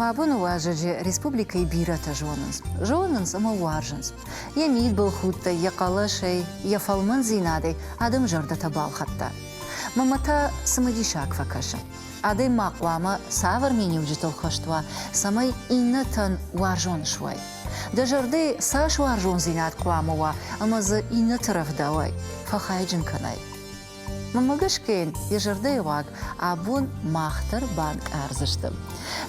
Мӕ боны уазӕджы республикӕйы бирӕтӕ зонынц. Зонынц ӕмӕ уарзынц. Йӕ мидбылхудтӕй, йӕ хъӕлӕсӕй, йӕ фӕлмӕндзинадӕй адӕм зӕрдӕтӕ балхӕдта. Мамӕ та цымыдисаг фӕкӕсы. Адӕймаг хъуамӕ цавӕр миниуджытыл хӕст уа, цӕмӕй иннӕтӕн уарзон суай. Дӕ зӕрдӕйы цас уарзондзинад хъуамӕ уа ӕмӕ дзы иннӕты рӕвдауай, фӕхайджын кӕнай. Мӕнмӕ гӕсгӕ йын йӕ зӕрдӕйы уаг абон мах дӕр банкъардзысты.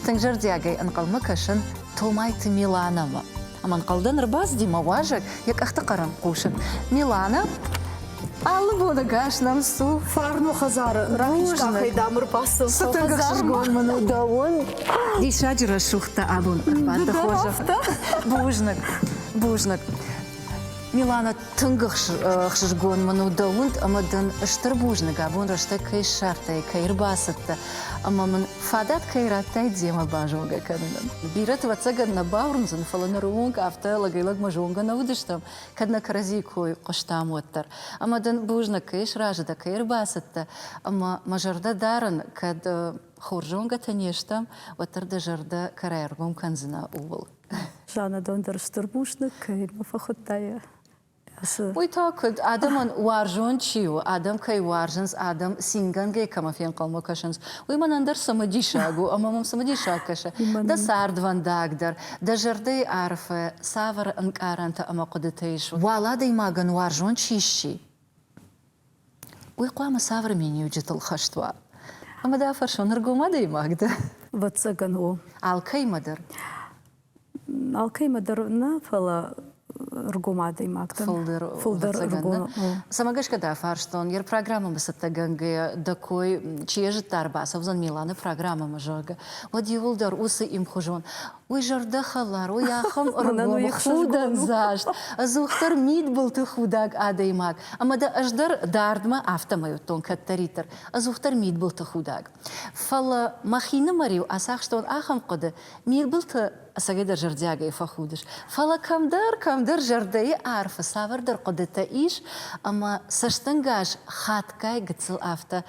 Тынг зӕрдиагӕй ӕнхъӕлмӕ кӕсын Томайты Миланамӕ. Ӕмӕнхъӕлдӕн ӕрбацыди мӕ уазӕг йӕ къӕхты хъӕрӕн хъусын. Милана, алы боныгас нӕм цу. Фарно хӕдзары рахизкъахӕй дам ӕрбацыд. Цы тынг ӕхсызгон мын у дӕуӕн. Диссаджы рӕсугъдтӕ абон ӕппӕты хорзӕх. Бузныг, бузныг. Милана, Тынг ӕхсызгон мын у дӕ уынд ӕмӕ дын стыр бузныг, абон рӕстӕг кӕй ссардтай, кӕй ӕрбацыдтӕ ӕмӕ мын фадат кӕй радтай демӕ базонгӕ кӕнынӕн. Бирӕты ӕвӕццӕгӕн нӕ бауырндзӕн, фӕлӕ нырыонг афтӕ лӕгӕй-лӕгмӕ зонгӕ нӕ уыдыстӕм, кӕд нӕ кӕрӕдзийы кой хъуыстам, уӕддӕр. Ӕмӕ дын бузныг, кӕй сразы дӕ, кӕй ӕрбацыдтӕ ӕмӕ мӕ зӕрдӕ дарын, кӕд хорз зонгӕтӕ не стӕм, уӕддӕр дӕ зӕрдӕ кӕрӕй ӕргом кӕндзынӕ ууыл. Зӕнадон дӕр стыр бузныг кӕй мӕ фӕхуыдта йӕ Цы? Уый та куыд, адӕмӕн уарзон чи у, адӕм кӕй уарзынц, адӕм цингӕнгӕй кӕмӕ фенхъӕлмӕ кӕсынц, уый мӕнӕн дӕр цымыдисаг у ӕмӕ мӕм цымыдисаг кӕсы, дӕ цардвӕндаг дӕр, дӕ зӕрдӕйы арфӕ, цавӕр ӕнкъарӕнтӕ ӕмӕ хъуыдытӕ ис, уал адӕймагӕн уарзон чи сси. уый хъуамӕ цавӕр миниуджытыл хӕст уа? Ӕмӕ дӕ фӕрсон, ӕргом адӕймаг дӕ? Ӕвӕццӕгӕн у. Алкӕимӕ дӕр? Алкӕимӕ дӕр нӕ, фӕлӕ ӕргом адӕймаг дӕн. Фылдӕр, фылдӕр ӕргом у. Цӕмӕ гӕсгӕ дӕ фӕрстон, йе программӕмӕ цӕттӕгӕнгӕйӕ дӕ кой, чи йӕ зыдта, ӕрбацӕудзӕн Миланы программӕмӕ, зӕгъгӕ, уӕд иууылдӕр уыцы имхуызон Уый зӕрдӕхӕларой ахӕм ӕргомыхудӕндзаст, ӕдзухдӕр мидбылты худӕг адӕймаг, ӕмӕ дӕ ӕз дӕр дардмӕ афтӕмӕй уыдтон кӕддӕриддӕр ӕдзухдӕр мидбылты худӕг. Фӕлӕ мӕхинымӕр-иу ацахстон ахӕм хъуыды, мидбылты ӕцӕгӕйдӕр зӕрдиагӕй фӕхудыс, фӕлӕ кӕмдӕр, кӕмдӕр зӕрдӕйы арфы цавӕрдӕр хъуыдытӕ ис, ӕмӕ цӕстӕнгас хатгай гыццыл афтӕ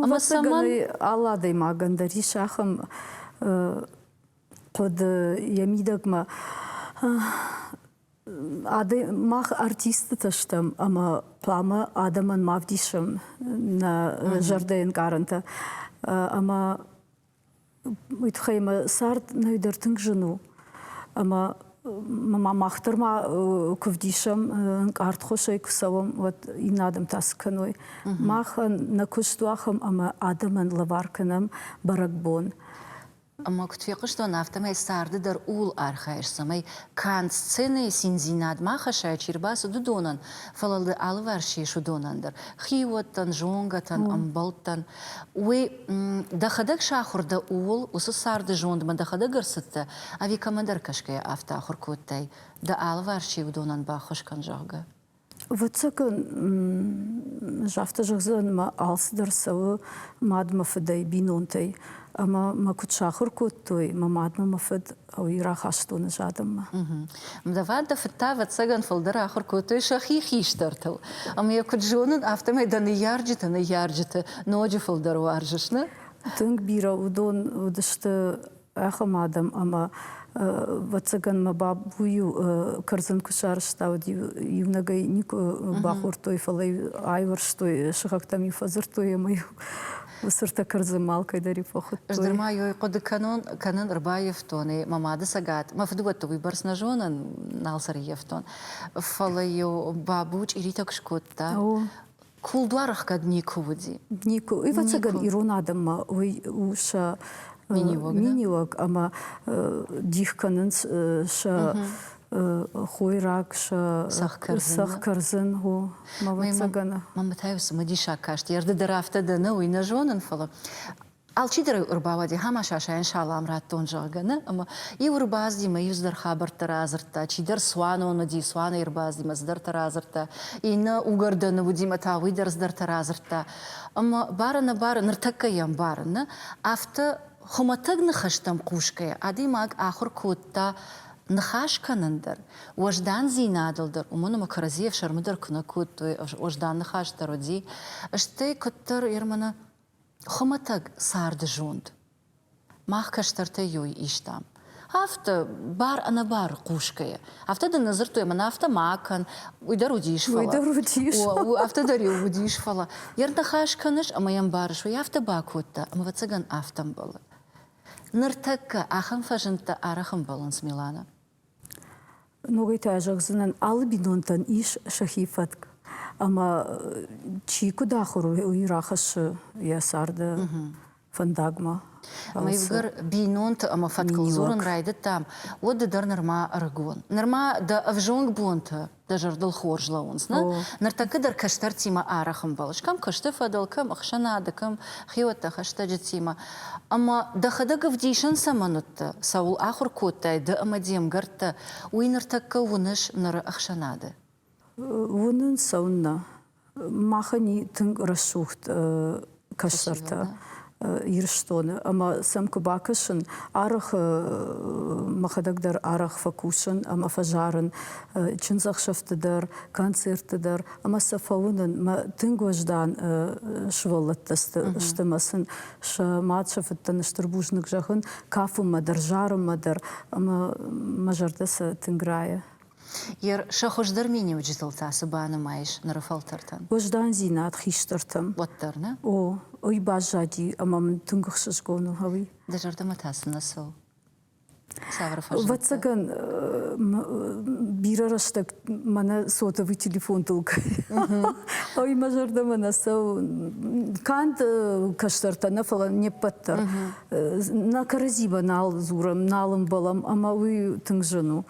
ӕмӕ цӕмӕн алы адӕймагӕн дӕр ис ахӕм хъуыды йӕ мидӕгмӕ мах артисттытӕ стӕм ӕмӕ хъуамӕ адӕмӕн ма вдисӕм нӕ зӕрдӕ ӕнкъарӕнтӕ ӕмӕ уый тыххӕй мӕ цард нӕйдӕр тынг зын у. Ӕмӕ ма мах дӕр ма куы вдисӕм ӕнкъардхосӕй куы цӕуӕм, уӕд иннӕ адӕм та цы кӕной. Махӕн нӕ куыст у ахӕм, ӕмӕ адӕмӕн лӕвар кӕнӕм бӕрӕгбон. Ӕмӕ куыд фехъуыстон, афтӕмӕй царды дӕр ууыл архайыс, цӕмӕй канд сценӕйы циндзинад ма хӕссай, чи рбацыд, уыдонӕн, фӕлӕ ды алыварс ис уыдонӕн дӕр, хиуӕттӕн, зонгӕтӕн, ӕмбӕлттӕн. Уый дӕхӕдӕг сахуыр дӕ ууыл, уыцы царды зондмӕ дӕхӕдӕг ӕрцыдтӕ, ӕви кӕмӕдӕр кӕсгӕйӕ афтӕ ахуыр кодтай, дӕ алыварс чи уыдонӕн баххуыс кӕн, зӕгъгӕ? Ӕвӕццӕгӕн, афтӕ зӕгъдзӕн, мӕ алцыдӕр цӕуы мадмӕ, фыдӕй, бинонтӕй. Ӕмӕ мӕ куыд сахуыр кодтой мӕ мадмӕ мӕ фыд, хъӕуы рахастоны з адӕммӕ. Давӕд дӕ фыд та, ӕвӕццӕгӕн, фылдӕр ахуыр кодтой сӕхи хистӕртыл. Ӕмӕ йӕ куыд зонын, афтӕмӕй дӕ ныййарджыты ныййарджыты ноджы фылдӕр уарзыс, нӕ? Тынг бирӕ уыдон уыдысты ахӕм адӕм, ӕмӕ, ӕвӕццӕгӕн, мӕ бабу-иу кӕрдзын куы сарӕзтауыд, иунӕгӕй никуы бахордтой, фӕлӕ айуӕрстой, сыхӕгтӕм-иу фӕдзырдтой ӕмӕ Уыцы ртӕккыр дзы малкӕй дӕр и фӕхуыдтой. Ӕз дӕр ма йой хъуыды кӕнон, кӕнын, ӕрбаййӕфтон ӕй мӕ мады цӕгат. Мӕ фыдыуӕтты уыйбӕрц нӕ зонын, нал сӕ ӕрййӕфтон. Фӕлӕ-иу бабу чъиритӕ куы скодта. О. Кулдуар ӕхгӕд никуы уыди. Никуы. Ӕвӕццӕгӕн, ирон адӕммӕ уый у сӕ миниуӕг, миниуӕг ӕмӕ дих кӕнынц сӕ хойраг сӕ сӕх кӕрдзын о мавӕцӕгӕны. Мамӕ та цымыдисаг каст, ерды дӕр афтӕ дӕ нӕ, уый нӕ зонын, фӕлӕ алчидӕр ӕрбауади ӕмӕ Сашӕйӕн салам радтон, зӕгъгӕ, нӕ, ӕмӕ иу ӕрбаздзи мӕ иу цыдӕр хабӕрттӕ радзырдта, чидӕр цуанон уыди, цуаны ӕрбаздзи мӕ цыдӕртӕ радзырдта, иннӕ уыгӕрдӕны уыди мӕ та уый дӕр цыдӕртӕ радзырдта. Ӕмӕ, бары-нӕбары, ныртӕккӕ йӕм барын, нӕ, афтӕ хуымӕтӕг ныхӕстӕм хъусгӕйӕ, адӕймаг ахуыр кодта ныхас кӕнын дӕр, уӕздандзинадыл дӕр, уымӕн ӕмӕ кӕрӕдзийӕ ӕфсӕрмы дӕр куы нӕ кодтой, уӕздан ныхас дӕр уыди, стӕй куыддӕр Ерманы хуымӕтӕг царды зонд мах кӕстӕртӕй иуы истам, афтӕ бар-ӕнӕбары хъусгӕйӕ. Афтӕ дын нӕ дзырдтой, мӕнӕ афтӕ ма кӕн, уый дӕр уыдис, фӕлӕ. Уый дӕр уыдис. Афтӕ дӕр иу уыдис, фӕлӕ. Йӕ ныхас кӕныс ӕмӕ йӕ мбарыс, уый афтӕ бакодта, ӕмӕ ӕвӕццӕгӕн афтӕ ӕмбӕлы. Ныртӕккӕ ахӕм фӕзындтӕ арӕх ӕмбӕлынц Миланы. Ногӕй та зӕгъдзынӕн, алы бинонтӕн ис сӕхи фӕтк. Ӕмӕ чи куыд ахуыр уый, уый рахӕссы йӕ царды фӕндагмӕ. Ӕмӕ ивгӕр бинонты ӕмӕ фӕткыл дзурын райдыдтам, уӕд ды дӕр нырма ӕрыгон. Нырма дӕ ӕвзонг бонты дӕ зӕрдыл хорз лӕууынц. Нӕ? Ныртӕккӕ дӕр кӕстӕртимӕ арӕх ӕмбӕлыс, кӕм куысты фӕдыл, кӕм ӕхсӕнады, кӕм хиуӕттӕ, хӕстӕджытимӕ. Ӕмӕ дӕхӕдӕг ӕвдисӕн цӕмӕн уыдтӕ? Цӕуыл ахуыр кодтай ды ӕмӕ де мгӕрттӕ? Уый ныртӕккӕ уыныс ныры ӕхсӕнады? Уынын, цӕуыннӕ Махӕн и тынг рӕсугъд кӕсӕртӕ. Ирыстоны ӕмӕ сӕм куы бакӕсын, арӕхы мӕхӕдӕг дӕр арӕх фӕкусын ӕмӕ фӕзарын чындзӕхсӕвты дӕр, концертты дӕр ӕмӕ сӕ фӕуынын. Мӕ тынг уӕздан сывӕллӕттӕ сты мӕ сын сӕ мад, сӕ фыдтӕн стыр бузныг зӕгъын, кафынмӕ дӕр, зарынмӕ дӕр ӕмӕ мӕ зӕрдӕ сӕ тынг райы. Ер сӕ хуыздӕр миниуджытыл та цы банымайыс ныры фӕлтӕртӕн? Уӕздандзинад хистӕртӕм. Уӕддӕр нӕ? О, уый баззади ӕмӕ мын тынг ӕхсызгон у гъӕуи. Дӕ зӕрдӕмӕ та цы нӕ цӕуы? Цавӕр фӕзындтӕ? Ӕвӕццӕгӕн, бирӕ рӕстӕг мӕнӕ сотовый телефонтыл гъӕуи мӕ зӕрдӕмӕ нӕ цӕуы. Канд кӕстӕртӕ нӕ, фӕлӕ не ппӕт дӕр. Нӕ кӕрӕдзимӕ нал дзурӕм, нал ӕмбӕлӕм ӕмӕ уый тынг зын у.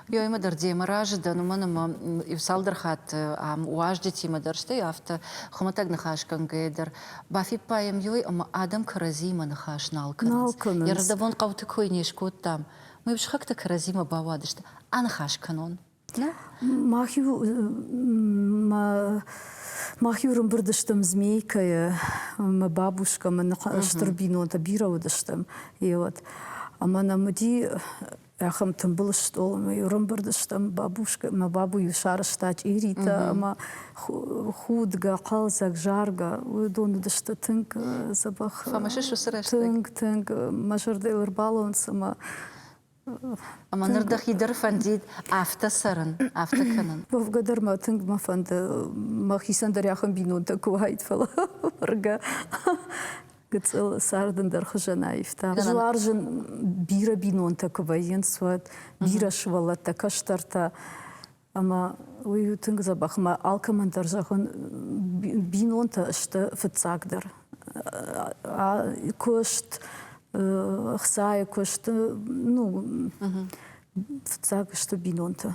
Ёимӕ дӕр демӕ разы дӕн, уымӕн ӕмӕ иу-цалдӕр хатты ам уазджытимӕ дӕр, стӕй афтӕ хуымӕтӕг ныхасгӕнгӕйӕ дӕр бафиппайӕм ёй ӕмӕ адӕм кӕрӕдзиимӕ ныхас нал кӕнынц. Нал Ерысдӕбон хъӕуты кой не скодтам. Мӕ упсхӕгтӕ кӕрӕдзимӕ бауадысты аныхас кӕнон. Мах-иу мах-иу рымбырд стӕм Змейкӕйы, мӕ бабушкӕмӕ, стыр бинонтӕ бирӕ уыдыстӕм, йе уӕд. Ӕмӕ нӕм уыди Ахӕм тымбыл стъолмӕ ӕрымбырдыстӕм бабушка мӕ бабу-иу сарызта чъиритӕ ӕмӕ худгӕ, хъӕлдзӕг, заргӕ. Уыдон уыдысты тынг дзӕбӕх. Хъӕмысыс уыцы рӕстӕг? Тынг, тынг. Мӕ зӕрдӕ ӕрбалон цыма ӕмӕ ныр дӕхи дӕр фӕндид афтӕ цӕрын, афтӕ кӕнын? Уӕвгӕ дӕр мӕ тынг мӕ фӕнды, мӕхицӕн дӕр ахӕм бинонтӕ куы уаид, фӕлӕ быргӕ. гыцъыл сӕр дын дӕр хуызӕн аивта. Дзуар зын бирӕ бинонтӕ куы вӕййынц, уӕд бирӕ сывӕллӕттӕ, кӕстӕртӕ. Ӕмӕ уый у тынг дзӕбӕх. Мӕ алкӕмӕн дӕр зӕгъын, бинонтӕ сты фыццагдӕр. Куыст, ӕхцайы куыст, ну, фыццаг сты бинонтӕ.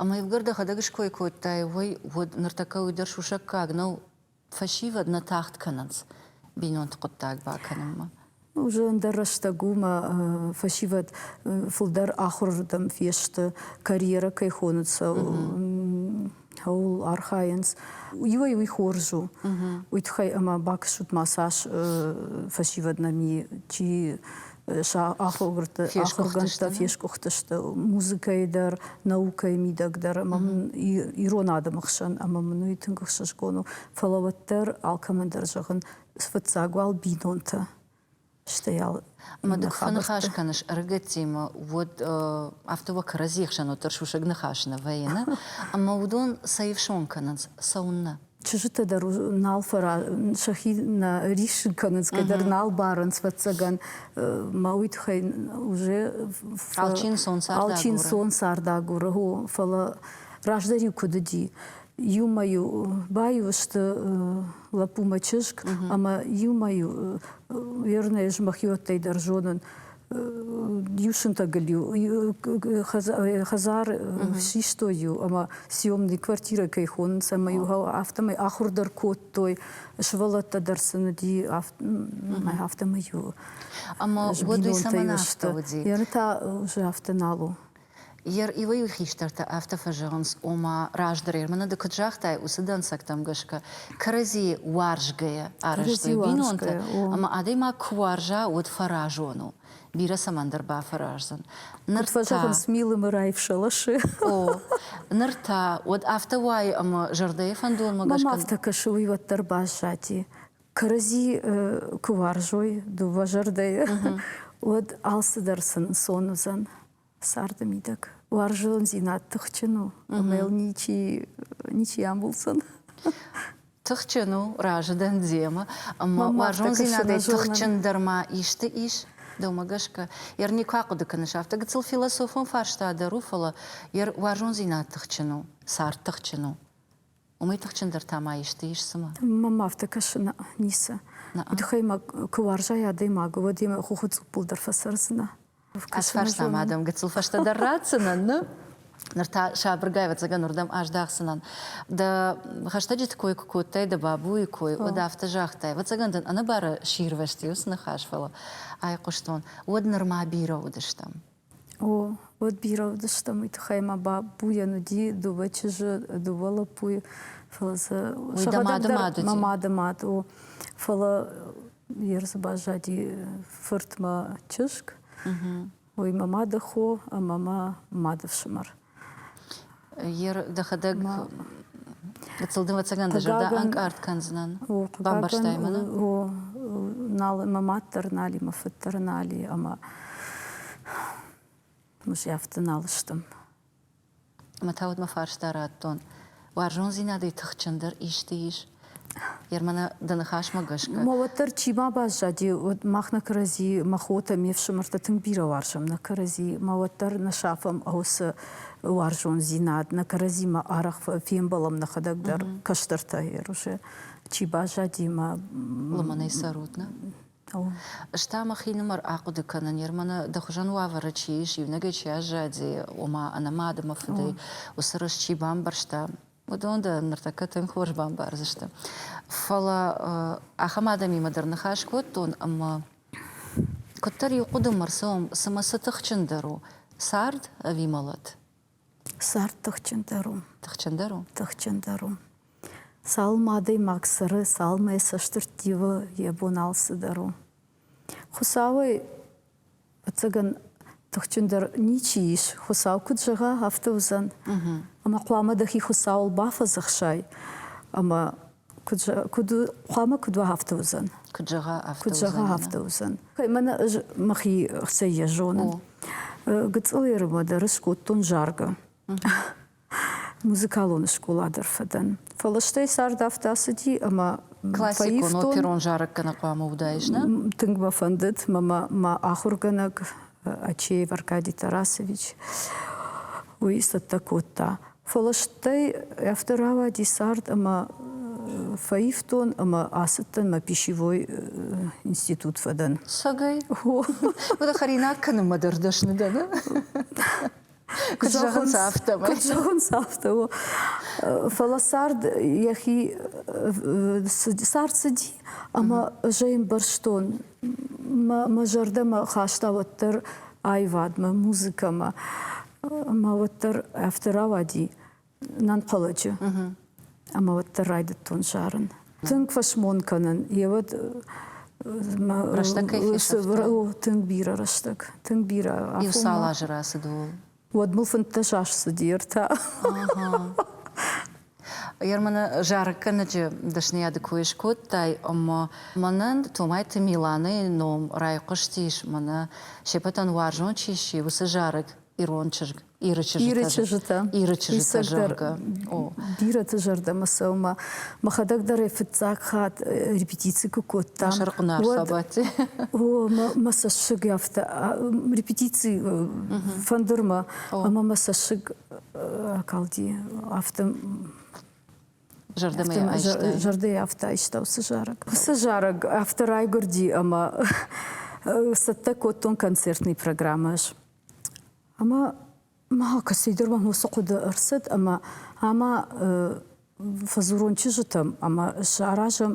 Ӕмӕ ивгӕр дӕхӕдӕг ской кодтай, уый уӕд ныртӕккӕ уый дӕр сусӕггаг нӕу? фӕсивӕд нӕ тагъд кӕнынц бинонты хъуыддаг бакӕнынмӕ. Уже ӕндӕр рӕстӕг у мӕ фӕсивӕд фылдӕр ахуырырдӕм фесты, карьерӕ кӕй хоныцӕ, кӕуыл архайынц. Иуӕй уый хорз у, уый тыххӕй ӕмӕ бакӕсут ма цас фӕсивӕд нӕми, чи сӕ ахуыргӕрты ахуыргӕндтӕ фескъуыхтысты музыкӕйы дӕр, наукӕйы мидӕг дӕр ӕмӕ мын ирон адӕмы хсӕн ӕмӕ мын уый тынг ӕхсызгон у. Фӕлӕ уӕддӕр алкӕмӕн дӕр зӕгъын, фыццаг уал бинонтӕ. Стӕй ал Ӕмӕ дык фӕныхас кӕныс ӕрыгӕттимӕ, уӕд афтӕ уӕ кӕрӕдзийы хсӕн уӕддӕр сусӕг ныхас нӕ вӕййы, нӕ? Ӕмӕ уыдон сӕ ифсон кӕнынц, цӕуыннӕ? Чызджытӕ дӕр нал фӕра сӕхи нӕ риссын кӕнынц, кӕддӕр нал барынц фӕццӕгӕн. Мӕ уый тыххӕй уже алчинсон цардагуры, цардагуры о, фӕлӕ раздӕр-иу куыд уыди, иумӕ-иу баиу сты лӕппумӕ чызг, ӕмӕ иумӕ-иу верное змахиоттӕй дӕр зонын, Иу сынтӕгыл-иу хӕдзар систой-иу ӕмӕ съемный квартирӕ кӕй хонынц ӕмӕ-иу афтӕмӕй ахуыр дӕр кодтой, сывӕллӕттӕ дӕр сын уыди, афтӕмӕй-иу ӕмӕ уӕд уый цӕмӕн афтӕ уыди? Яны та уже афтӕ нал у. Йе р'ивӕй-иу хистӕртӕ афтӕ фӕзӕгъынц, ома, раздӕр Ерманы ды куыд загътай, уыцы дӕнцӕгтӕм гӕсгӕ кӕрӕдзийы уарзгӕйӕ арӕзтой бинонтӕ, ӕмӕ адӕймаг куы уарза, уӕд фӕразон у. Бирӕ цӕмӕндӕр бафӕраздзӕн. Ныр фӕзӕгъынц, милымы раивсӕласы. О, ныр та уӕд афтӕ уайы, ӕмӕ зӕрдӕйы фӕндонмӕ гӕсгӕ. Мӕм афтӕ кӕсы, уый уӕддӕр баззади. кӕрӕдзи куы уарзой дыууӕ зӕрдӕйы, уӕд алцыдӕр сын ӕнцон уыдзӕн царды мидӕг. Уарзондзинад тыхджын у, ӕмӕ йыл ничи ничи амулдзӕн. Тыхджын у, разы дӕн демӕ, ӕмӕ уарзондзинадӕй тыхджындӕр ма исты ис? Дӕумӕ гӕсгӕ, Эрни куы ахъуыды кӕныс, афтӕ гыццыл философон фарста дӕр у, фӕлӕ йӕ уарзондзинад тыхджын у, цард тыхджын у? Уымӕй тыхджындӕр та ма исты ис цымӕ? Мӕм афтӕ кӕсы, нӕ, ницы. Удхӕймаг куы уарзай адӕймагы, уӕд йемӕ хохы цъуппыл дӕр фӕцӕрдзынӕ. Ӕрфӕрсӕм адӕмы, гыццыл фӕстӕдӕр ратдзынӕн, ны? Ныр та сабыргай, ӕвӕццӕгӕн, уырдӕм аздӕхдзынӕн. Дӕ хӕстӕджыты кой куы кодтай, дӕ бабуйы кой, уӕд афтӕ загътай, ӕвӕццӕгӕн дын ӕнӕбары сирвӕзти уыцы ныхас, фӕлӕ айхъуыстон, уӕд нырма бирӕ уыдыстӕм. О, уӕд бирӕ уыдыстӕм, уый тыххӕй мӕ бабуйӕн уыди дыууӕ чызджы, дыууӕ лӕппуйы, фӕлӕ сӕ сӕхӕдӕг дӕр мӕ мады мад, о, фӕлӕ йе рдзы баззади фыртмӕ чызг, уый мӕ мады хо ӕмӕ мӕ мады фсымӕр. дӕхӕдӕг ӕцӕгӕн дӕ зӕрдӕ ӕнкъард кӕндзынӕн бамбӕрстай мӕнӕ нал мӕ мад дӕр нали мӕ фыд дӕр нали ӕмӕ музей афтӕ нал сты ӕмӕ та уӕдмӕ фарста радтон Уарзондзинадӕй тыхджындӕр исты ис? Ермана, дӕ ныхасмӕ гӕсгӕ. Ма уӕддӕр чи ма баззади, уӕд мах нӕ кӕрӕдзи, мӕ хотӕ, ме фсымӕртӕ тынг бирӕ уарзӕм нӕ кӕрӕдзи, ма уӕддӕр нӕ сафӕм уыцы уарзондзинад, нӕ кӕрӕдзимӕ арӕх фембӕлӕм нӕхӕдӕг дӕр кӕстӕртӕй. Ерусе, чи баззади, мӕ лымӕнӕй цӕрут, нӕ? Ӕз та мӕхинымӕр ахъуыды кӕнын, Ерманы дӕ хуызӕн уавӕры чи ис, иунӕгӕй чи аззади, ома ӕнӕмӕ адӕмы фыдӕй уыцы рыст чи бамбӕрста, уыдон дӕ ныртӕккӕ тынг хорз бамбардзысты. Фӕлӕ ахӕм адӕмимӕ дӕр ныхас кодтон, ӕмӕ куыддӕр иу хъуыдымӕ рцӕуӕм, цымӕ цы тыхджындӕр у, цард ӕви мӕлӕт? Цард тыхджындӕр у. Тыхджындӕр у? Тыхджындӕр у. Цалынмӕ адӕймаг цӕры, цалынмӕ йӕ цӕстырт ивы, йӕ бон алцыдӕр у. Хуыцауӕй, ӕцӕгӕн, тыхджындӕр ничи ис. Хуыцау куыд зӕгъа, афтӕ уыдзӕн. Ӕмӕ хъуамӕ дӕхи Хуыцауыл бафӕдзӕхсай ӕмӕ куыд хъуамӕ куыд уа афтӕ уыдзӕн куыд зӕгъа афтӕ куыд зӕгъа афтӕ уыдзӕн мӕнӕ ӕз мӕхи хсӕй йӕ зонын гыцъылы ӕрмӕды скодтон заргӕ музыкалон скъола дӕр фӕдӕн фӕлӕ стӕй цард афтӕ цыди ӕмӕ классикон оперон зарӕг гӕнӕн хъуамӕ уыдаис нӕ тынг мӕ фӕндыд мӕ мӕ ахуыргӕнӕг Ачеев Аркадий Тарасович, уый цӕттӕ кодта. Фӕлӕ стӕй афтӕ рауади цард ӕмӕ фӕивтон ӕмӕ ацыдтӕн мӕ пищевой институт фӕдӕн. Сагӕй? Уӕдӕ хӕринаг кӕнынмӕ дӕр дӕсны дӕ, ны? Куыд зӕгъынц, афтӕмӕй. Куыд зӕгъынц, афтӕ у. Фӕлӕ цард йӕхи цард цыди, ӕмӕ ӕз ӕй ӕмбӕрстон мӕ зӕрдӕмӕ хаста уӕддӕр аивадмӕ, музыкӕмӕ. Мӕ уӕддӕр афтӕ рауади, нӕнхъӕлӕджы. Ӕмӕ уӕддӕр райдыдтон сарын. Тынг фӕсмон кӕнын, йе уӕд тынг бирӕ рӕстӕг, тынг бирӕ. Иу цал азы рацыд ууыл? Уӕд мыл фынддӕс аз цыди ӕртӕ. Ерманы зарӕггӕнӕджы дӕсныйады кой скодтай, ӕмӕ мӕнӕн Томайты Миланӕйы ном райхъуыстис, мӕнӕ се пӕтӕн уарзон чи сси, уыцы зарӕг, ирон чызг. Иры чызджытӕ. Иры чызджытӕ. Иры чызджытӕ зӕгъгӕ. Бирӕты зӕрдӕмӕ цӕуы Мӕхӕдӕг дӕр ӕй фыццаг хатт репетици куы кодтам. Мӕ сӕркъуынар сабати. О, мӕ цӕссыг афтӕ репетици фӕндырмӕ ӕмӕ мӕ цӕссыг акалди афтӕ Зӕрдӕмӕ айстай. Зӕрдӕйы афтӕ айста уыцы зарӕг. Уыцы зарӕг афтӕ райгуырди ӕмӕ цӕттӕ кодтон концертный программӕ. Ӕмӕ ма кӕцыйдӕр уӕм уыцы хъуыды ӕрцыд ӕмӕ ӕмӕ фӕдзурон чызджытӕм ӕмӕ саразӕм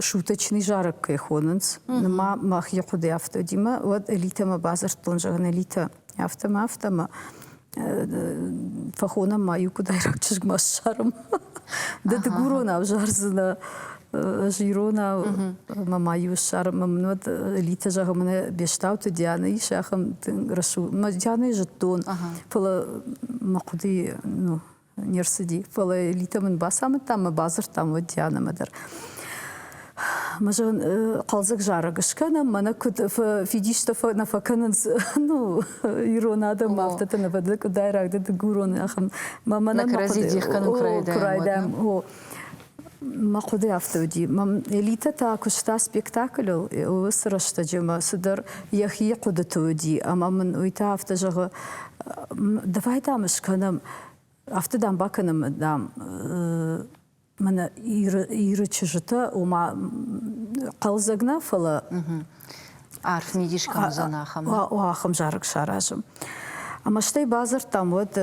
шуточный зарӕг кӕй хонынц. Нма мах йӕ хъуыды афтӕ димӕ, уӕд Элитӕмӕ бадзырдтон, зӕгъын, Элитӕ, афтӕ мӕ афтӕ мӕ фӕхонӕм ма иу куыдайраг чызгмӕ ссарӕм. Ды дыгуронау зардзынӕ ӕз иронау мӕ ма иу ссарын мӕ мын уӕд Литя зӕгъы мӕнӕ Бестауты Диана ис ахӕм тынг рӕсугъд мӕ Дианайы зыдтон фӕлӕ мӕ хъуыдыйы ну не рцыди фӕлӕ Литя мын бацамыдта мӕ бадзырдтам уӕд Дианамӕ дӕр Мы же хъӕлдзӕг зарӕг скӕнӕм, мӕнӕ куыд фидистӕ нӕ фӕкӕнынц ну, ирон адӕм, афтӕ ты нывӕдды къуыдайраг ды дыгурон ахӕм. Мӕнӕ кӕрӕдзи дих кӕнын курайдӕм. Мӕ хъуыды афтӕ уыди. Элитӕ та куыста спектакльыл уыцы рӕстӕджы мӕ цыдӕр йӕхи хъуыдыты уыди. Ӕмӕ мын уый та афтӕ зӕгъы, давай дам скӕнӕм, афтӕ дам бакӕнӕм дам Мӕнӕ Иры, Иры чызджытӕ, ома хъӕлдзӕг нӕ, фӕлӕ арф мидис кӕм уыдзӕн ахӕм. Ахӕм зарӕг саразым. Ӕмӕ стӕй бадзырдтам уӕд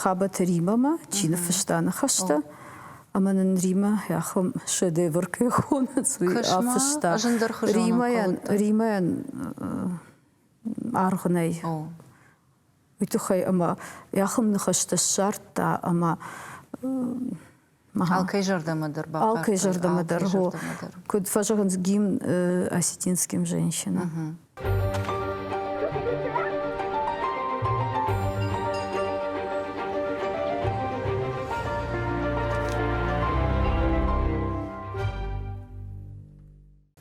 Хабӕты Римамӕ, чи ныффыста ныхӕстӕ. Ӕмӕ нын Римӕ ахӕм шедевр кӕй хонынц, уый афыста. Римӕйӕн, Римӕйӕн аргъ нӕй. уый тыххӕй ӕмӕ йӕхм ныхӕстӕ ссардта ӕмӕ Алкӕй зӕрдӕмӕ дӕр Алкӕй зӕрдӕмӕ дӕр Куыд фӕзӕгъынц гимн осетинским женщинам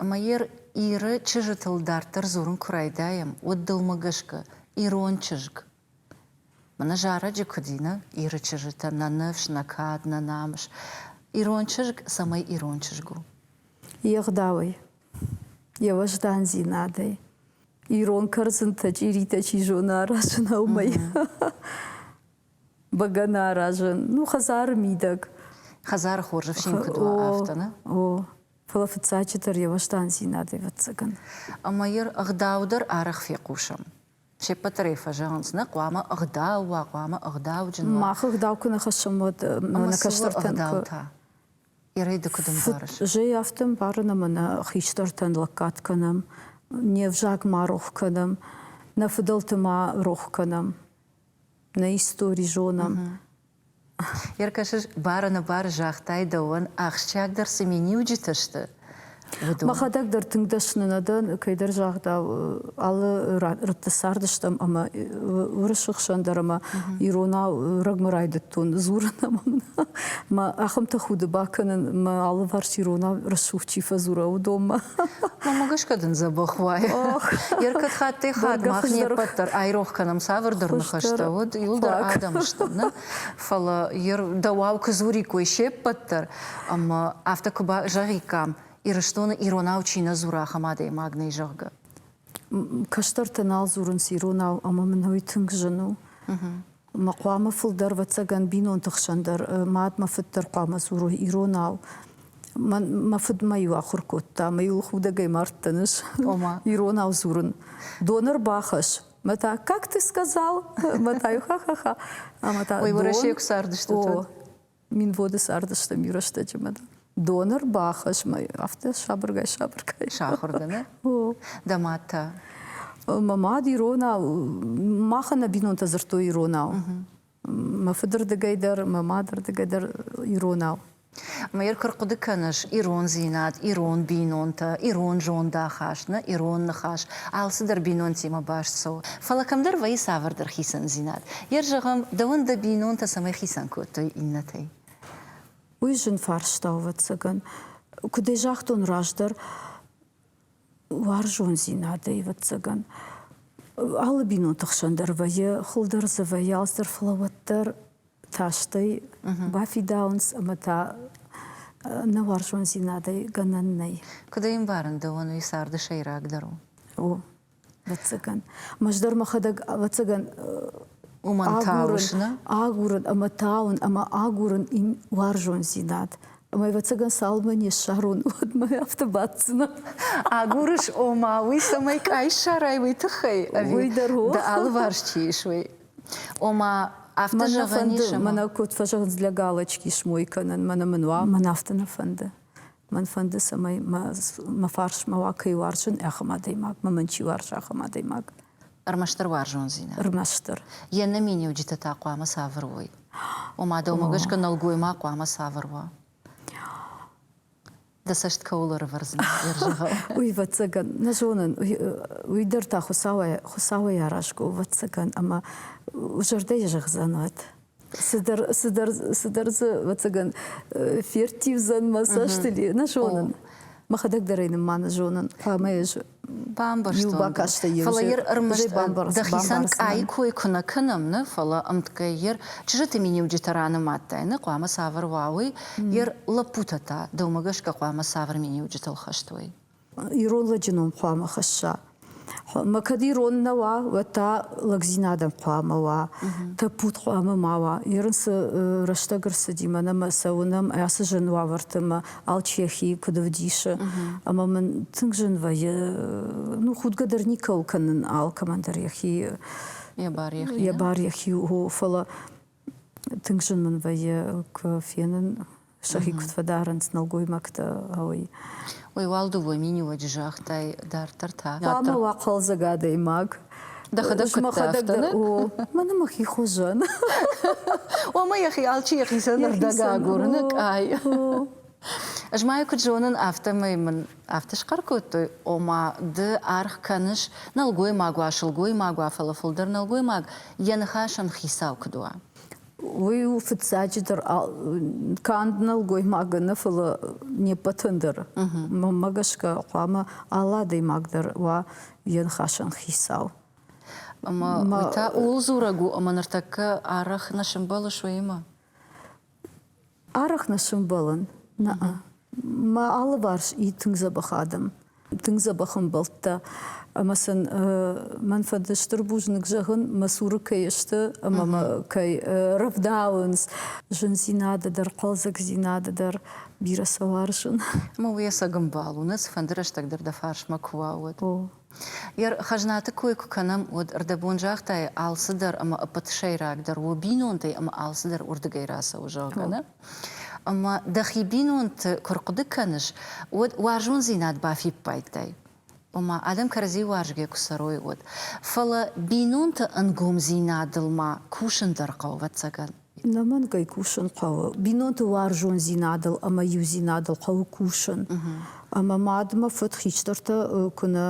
Ӕмӕ Иры чызджытыл дарддӕр дзурын куы райдайӕм, уӕд дӕумӕ гӕсгӕ ирон чызг мӕнӕ зарӕджы куыд ины Иры чызджытӕн нӕ ныфс, нӕ кад, нӕ намыс? Ирон чызг цӕмӕй ирон чызг у? Йе гъдауӕй, йе уӕздандзинадӕй, ирон кӕрдзынтӕ, чъиритӕ чи зоны, аразын ӕу мӕй. бӕгӕны аразын. Ну, хӕдзары мидӕг. Хӕдзары хорз ӕфсин куыд уа, афтӕ, нӕ? О, фӕлӕ фыццаджы дӕр йӕ уӕздандзинад, ӕвӕццӕгӕн. Ӕмӕ йӕ ӕгъдау дӕр арӕх фехъусӕм. Се ппӕт дӕр ӕй фӕзӕгъынц, нӕ хъуамӕ ӕгъдау уа, хъуамӕ ӕгъдауджын уа. Мах ӕгъдау куы нӕ хӕссӕм, уӕд ӕмӕ нӕ кӕстӕртӕн ӕгъдау та? Ирӕй ды куыд ӕмбарыс? Зӕй афтӕ ӕмбарын, ӕмӕ нӕ хистӕртӕн лӕггад кӕнӕм, не взаг ма рох кӕнӕм, нӕ фыдӕлты ма рох кӕнӕм. нӕ истори зонӕм. Йе ркӕсыс бары-нӕбары загътай дӕуӕн, ахсджиагдӕр цы миниуджытӕ сты, уыдон. Мӕхӕдӕг дӕр тынг дӕсны нӕ дӕн, кӕйдӕр загъдау, алы рӕтты цардыстӕм ӕмӕ уырысы хсӕн дӕр ӕмӕ иронау рӕгмӕ райдыдтон дзурын ӕмӕ мын мӕ ахӕмты худы бакӕнын мӕ алыварс ирона рӕсугъд чи фӕдзура, уыдонмӕ. Мӕ гӕсгӕ дын дзӕбӕх уайы. Йе ркӕд хаттӕй хатт мах не ппӕт дӕр айрох кӕнӕм, цавӕрдӕр ныхӕстӕ уыд, иуылдӕр адӕм стӕм нӕ, фӕлӕ дӕуау куы дзуриккой се ппӕт дӕр, ӕмӕ афтӕ куы зӕгъиккам, Ирыстоны иронау чи нӕ дзура, ахӕм адӕймаг нӕй, зӕгъгӕ. Кӕстӕртӕ нал дзурынц иронау, ӕмӕ мын уый тынг зын у. Ма хъуамӕ фылдӕр, ӕвӕццӕгӕн, бинонты хсӕн дӕр, мад мӕ фыд дӕр хъуамӕ дзурой иронау. Мӕн, мӕ фыд мӕ-иу ахуыр кодта, мӕ-иу худӕгӕй мардтӕныс Ома? иронау дзурын. Донор бахӕсс. Мӕ та как ты сказал? Мӕ та-иу ха-ха-ха. Ӕмӕ та Ой, Уӕрӕсейы куы цардыстут, уӕд? Минводы цардысты рӕстӕджы мӕ донор бахӕс мӕ афтӕ сабыргай-сабыргай. Сахуыргӕнӕг? Дӕ мад та? Мӕ мад иронау, махӕн нӕ бинонтӕ дзырдтой иронау. Мӕ фыдырдыгӕй дӕр, мӕ мадырдыгӕй дӕр иронау. Мӕйыр куы рхъуыды кӕныс, ирондзинад, ирон бинонтӕ, ирон зондахаст, нӕ ирон ныхас, алцыдӕр бинонтимӕ баст цӕуы. Фӕлӕ кӕмдӕр вӕййы цавӕрдӕр хицӕндзинад. Йер зӕгъӕм, дӕуӕн дӕ бинонтӕ цӕмӕй хицӕн кодтой иннӕтӕй? Уый зын фарста, ӕвӕццӕгӕн. Куыд ӕй загътон раздӕр, уарзондзинадӕй, ӕвӕццӕгӕн, алы бинонты хсӕн дӕр вӕййы хуылдӕр дзы вӕййы алцдӕр, фӕлӕ уӕддӕр тастӕй бафидауынц ӕмӕ та нӕ уарзондзинадӕй гӕнӕн нӕй. Куыд ӕй ӕмбарын, дӕуӕн уый царды сӕйрагдӕр у? О, Вӕццӕгӕн. Мӕз дӕр мӕхӕдӕг, ӕвӕццӕгӕн, уымӕн тауын, агурын ӕмӕ тауын ӕмӕ агурын им уарзондзинад. Ӕмӕ, ӕвӕццӕгӕн, цалынмӕ не ссарон, уӕдмӕ афтӕ баддзынӕ. Агурыс, ома, уый цӕмӕй къай ссарай, уый тыххӕй? Уый дӕр у. Ды алыварс чи ис, уый. Ома, афтӕ зӕгъӕн ис? Мӕнӕ куыд фӕзӕгъынц, лӕг алачки смой кӕнын, мӕнӕ мын уа, мӕн афтӕ нӕ фӕнды. Мӕн фӕнды, цӕмӕй мӕ фарсмӕ уа кӕй уарзын ахӕм адӕймагмӕ, мӕн чи уарзы, ахӕм адӕймаг. Ӕрмӕстдӕр уарзондзинад. Ӕрмӕстдӕр. Йе нӕминиуджытӕ та хъуамӕ цавӕр уой? Ома, дӕумӕ гӕсгӕ нӕлгоймаг хъуамӕ цавӕр уа? Дӕ цӕст кӕуыл ӕрывӕрдзынӕ йӕ рзӕгъӕл? Уый, ӕвӕццӕгӕн, нӕ зонын. Уый дӕр та Хуыцауӕй, Хуыцауӕй аразгӕ у, ӕвӕццӕгӕн, ӕмӕ зӕрдӕйы зӕгъдзӕнуат. цыдӕр цыдӕр цыдӕр дзы ӕвӕццӕгӕн ферттивдзӕн мӕ цӕст или нӕ зонын мӕхӕдӕг дӕр ӕй нымманы зонын ӕмӕ ӕз бамбӕрстон бакастӕй дӕхицӕн къайы кой куы нӕ кӕнӕм нӕ фӕлӕ ӕмткӕй йер чызджыты миниуджытӕ ранымадтай нӕ хъуамӕ цавӕр уа уый йер лӕппутӕ та дӕумӕ гӕсгӕ хъуамӕ цавӕр миниуджытыл хӕстой Ирон лӕджы ном хъуамӕ хӕсса. Ӕмӕ кӕд ирон нӕ уа, уӕд та лӕгдзинадӕн хъуамӕ уа, тӕппуд хъуамӕ ма уа. Ирын цы рӕстӕг ӕрцыди, мӕнӕ мӕ цӕуынӕм ацы зын уавӕрты мӕ Алчехийы куыд ӕвдисы. Ӕмӕ мын тынг зын вӕййы, ну, худгӕ дӕр никӕуыл кӕнын алкӕмӕн дӕр йӕхи. Йӕ бар йӕхи. Йӕ бар йӕхи у, фӕлӕ Тынг зын мын вӕййы куы фенын, сӕхи куыд фӕдарынц нӕлгоймӕгтӕ, уый. Уый уӕлдыууӕ миниуӕджы загътай дарддӕр та? Хъуамӕ уа хъӕлдзӕг адӕймаг. Дӕхӕдӕг куыддӕ афтӕ? О, мӕн мӕхи хуызӕн. Ома йӕхи алчи йӕхицӕн рдӕг агурыны къай. Ӕз ма куыд зонын, афтӕмӕй мын афтӕ схъӕр кодтой, ома, ды аргъ кӕныс нӕлгоймаг уа, сылгоймаг уа, фӕлӕ фылдӕр нӕлгоймаг йӕ ныхасӕн хицау куыд уа. Уый у фыццаджыдӕр канд нӕлгоймагы нӕ, фӕлӕ не ппӕтӕн дӕр. Мӕнмӕ гӕсгӕ хъуамӕ алы адӕймаг дӕр уа йӕ ныхасӕн хицау. Ӕмӕ уый та ууыл дзурӕг у, ӕмӕ ныртӕккӕ арӕх нӕ сӕмбӕлыс уыимӕ. Арӕх нӕ сӕмбӕлын. Нӕ-ӕ. Мӕ алыварс и тынг дзӕбӕх адӕм, тынг дзӕбӕх ӕмбӕлттӕ. Ӕмӕ сын мӕн фӕды стыр бузныг зӕгъын, мӕ цуры кӕй сты ӕмӕ мӕ кӕй рӕвдауынц зындзинады дӕр, хъӕлдзӕгдзинады дӕр. Бирӕ сӕ уарзын. Ӕмӕ уе сӕгӕмбал у, нӕ цыфӕнды рӕстӕг дӕр дӕ фарсмӕ куы уа, уӕд. О. Йӕ хӕзнаты кой куы кӕнӕм, уӕд ӕрдӕбон загътайы алцыдӕр ӕмӕ ӕппӕт сӕйрагдӕр у бинонтӕй ӕмӕ алцыдӕр уырдыгӕй рацӕуы, зӕгъгӕ, нӕ? Ӕмӕ дӕхи бинонты куы рхъуыды кӕныс, уӕд уарзондзинад бафиппайдтай, ома адӕм кӕрӕдзи уарзгӕ куы цӕрой, уӕд. Фӕлӕ бинонты ӕнгомдзинадыл ма кусын дӕр хъӕуы, ӕвӕццӕгӕн. Иннӕмӕнгӕй кусын хъӕуы бинонты уарзондзинадыл ӕмӕ иудзинадыл хъӕуы кусын. Ӕмӕ мадмӕ фыд хистӕртӕ куы нӕ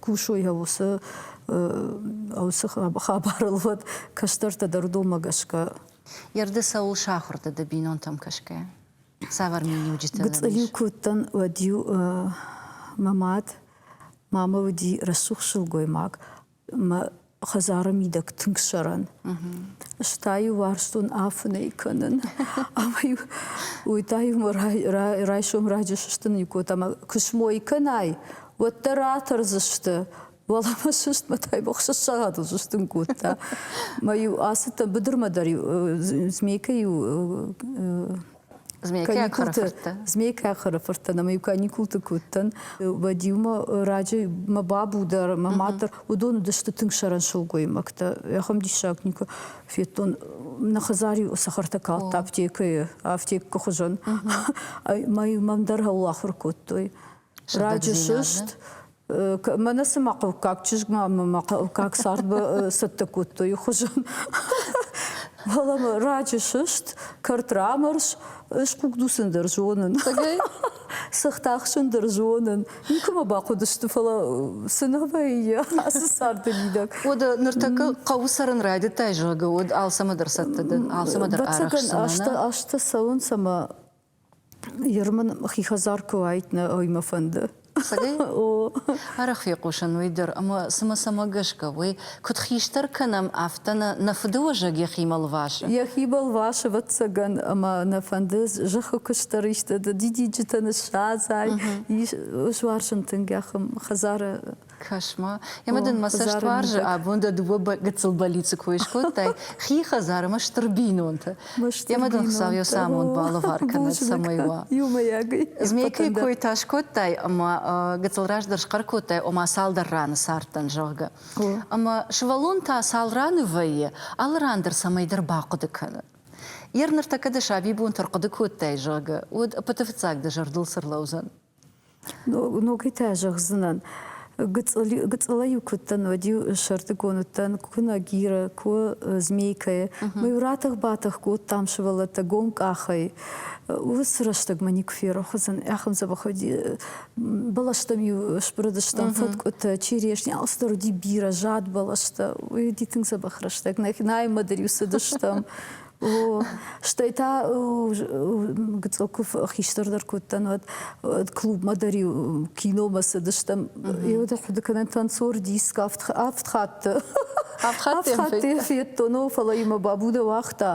кусой уыцы уыцы хабарыл, уӕд кӕстӕртӕ дӕр уыдонмӕ гӕсгӕ. Йе рды цӕуыл сахуыр дӕ ды бинонтӕм кӕсгӕ? Цавӕр миниуджытӕ Гыцъыл-иу куы уыдтӕн, уӕд-иу мӕ мад, мамӕ уыди рӕсугъд сылгоймаг, мӕ хӕдзары мидӕг тынг сӕрӕн. Ста-иу уарзтон афынӕй кӕнын. Ӕмӕ-иу уый та-иу мӕ райсом раджы сыстын-иу кодта ӕмӕ куы смой кӕнай, уӕддӕр атӕрдзысты. Уӕлӕ ма сыстмӕ та ӕхсӕз сагъатыл сыстын кодта. Мӕ-иу ацыдтӕн быдырмӕ дӕр-иу змейкӕ-иу Змейкӕ хыры фырттӕн ӕмӕ иу каникулты куы уыдтӕн, уӕд-иу мӕ раджы мӕ бабу дӕр, мӕ мад дӕр, уыдон уыдысты тынг сӕрӕн сылгоймӕгтӕ. Ахӕм диссаг никуы федтон. Нӕ хӕдзар-иу цӕхӕртӕ калдта аптекӕйы, аптеккы хуызӕн. Мӕ мам дӕр хыл ахуыр кодтой. раджы сыст мӕнӕ цыма хъӕуккаг чызгмӕ ӕмӕ мӕ хъӕуккаг цардмӕ цӕттӕ кодтой хуызӕн фӕлӕ раджы сыст кӕрт рамӕрс схъугдусын дӕр зонын сыхт ахсын дӕр зонын никуыма бахъуыдысты фӕлӕ цы нӕ вӕййы ацы царды мидӕг уӕд ныртӕккӕ хъӕуы цӕрын райдыдтай зӕгъгӕ уӕд алцӕмӕ дӕр цӕттӕ дӕн алцӕмӕ дӕр арӕхсдзынӕн азтӕ цӕуынц ӕмӕ Еры мын хи хӕдзар куы уайд, нӕ ой мӕ фӕнды. Арӕх фехъусын уый дӕр, ӕмӕ цымӕ цӕмӕ гӕсгӕ уый, куыд хистӕр кӕнӕм, афтӕ нӕ нӕ фыдыуӕзӕг йӕхимӕ лвасы? Йӕхи балвасы, ӕвӕццӕгӕн, ӕмӕ нӕ фӕнды зӕххы куыстдӕр исты дидинджытӕ ныссадзай. Ис суарзын тынг, хӕдзары Кӕс-ма, ӕмӕ дын мӕ цӕстуарзы абон дӕ дыууӕ гыццыл больницы кой скодтай, хи хӕдзар ӕмӕ стыр бинонтӕ. Ӕмӕ дын Хуыцау йӕ самонд балӕвар кӕнӕд, цӕмӕй уа. Иумӕйаг змейкӕйы кой та скодтай ӕмӕ гыццыл раздӕр схъӕр кодтай, ома цалдӕр раны цардтӕн, зӕгъгӕ. Ӕмӕ сывӕллон та цал раны вӕййы, алы ран дӕр цӕмӕйдӕр бахъуыды кӕны. Йӕ ныртӕккӕ дӕ сабибонты ӕрхъуыды кодтай, зӕгъгӕ, уӕд пыты фыццаг дӕ зӕрдыл цы рлӕудзӕн? Ногитӕ зӕгъдзынӕн. Гыцъыла-иу куы уыдтӕн, уӕд-иу сӕртыгон уыдтӕн, куы нагиры, куы змейкӕйы. Мы-иу ратӕх-батӕх кодтам сывӕллӕттӕ гом къахӕй. Уыцы рӕстӕг мӕ никуы ферох уыдзӕн. Ахӕм дзӕбӕх уыди. Бӕлӕстӕм-иу сбырыдыстӕм фӕткъуытӕ, черешни, алцыдӕр уыди бирӕ, зад бӕлӕстӕ. Уый уыди тынг дзӕбӕх рӕстӕг. Наимӕ дӕр-иу цыдыстӕм. Стӕй та гыцъокув хистӕр дӕр кодтан уӕд клубмӕ дӕр киномӕ цыдыстӕм. Еуӕд ахуыды кӕнӕн танцор диск авд хатты Авхаттӕ федтон, о, фӕлӕ йын мӕ бабудӕ уагъта.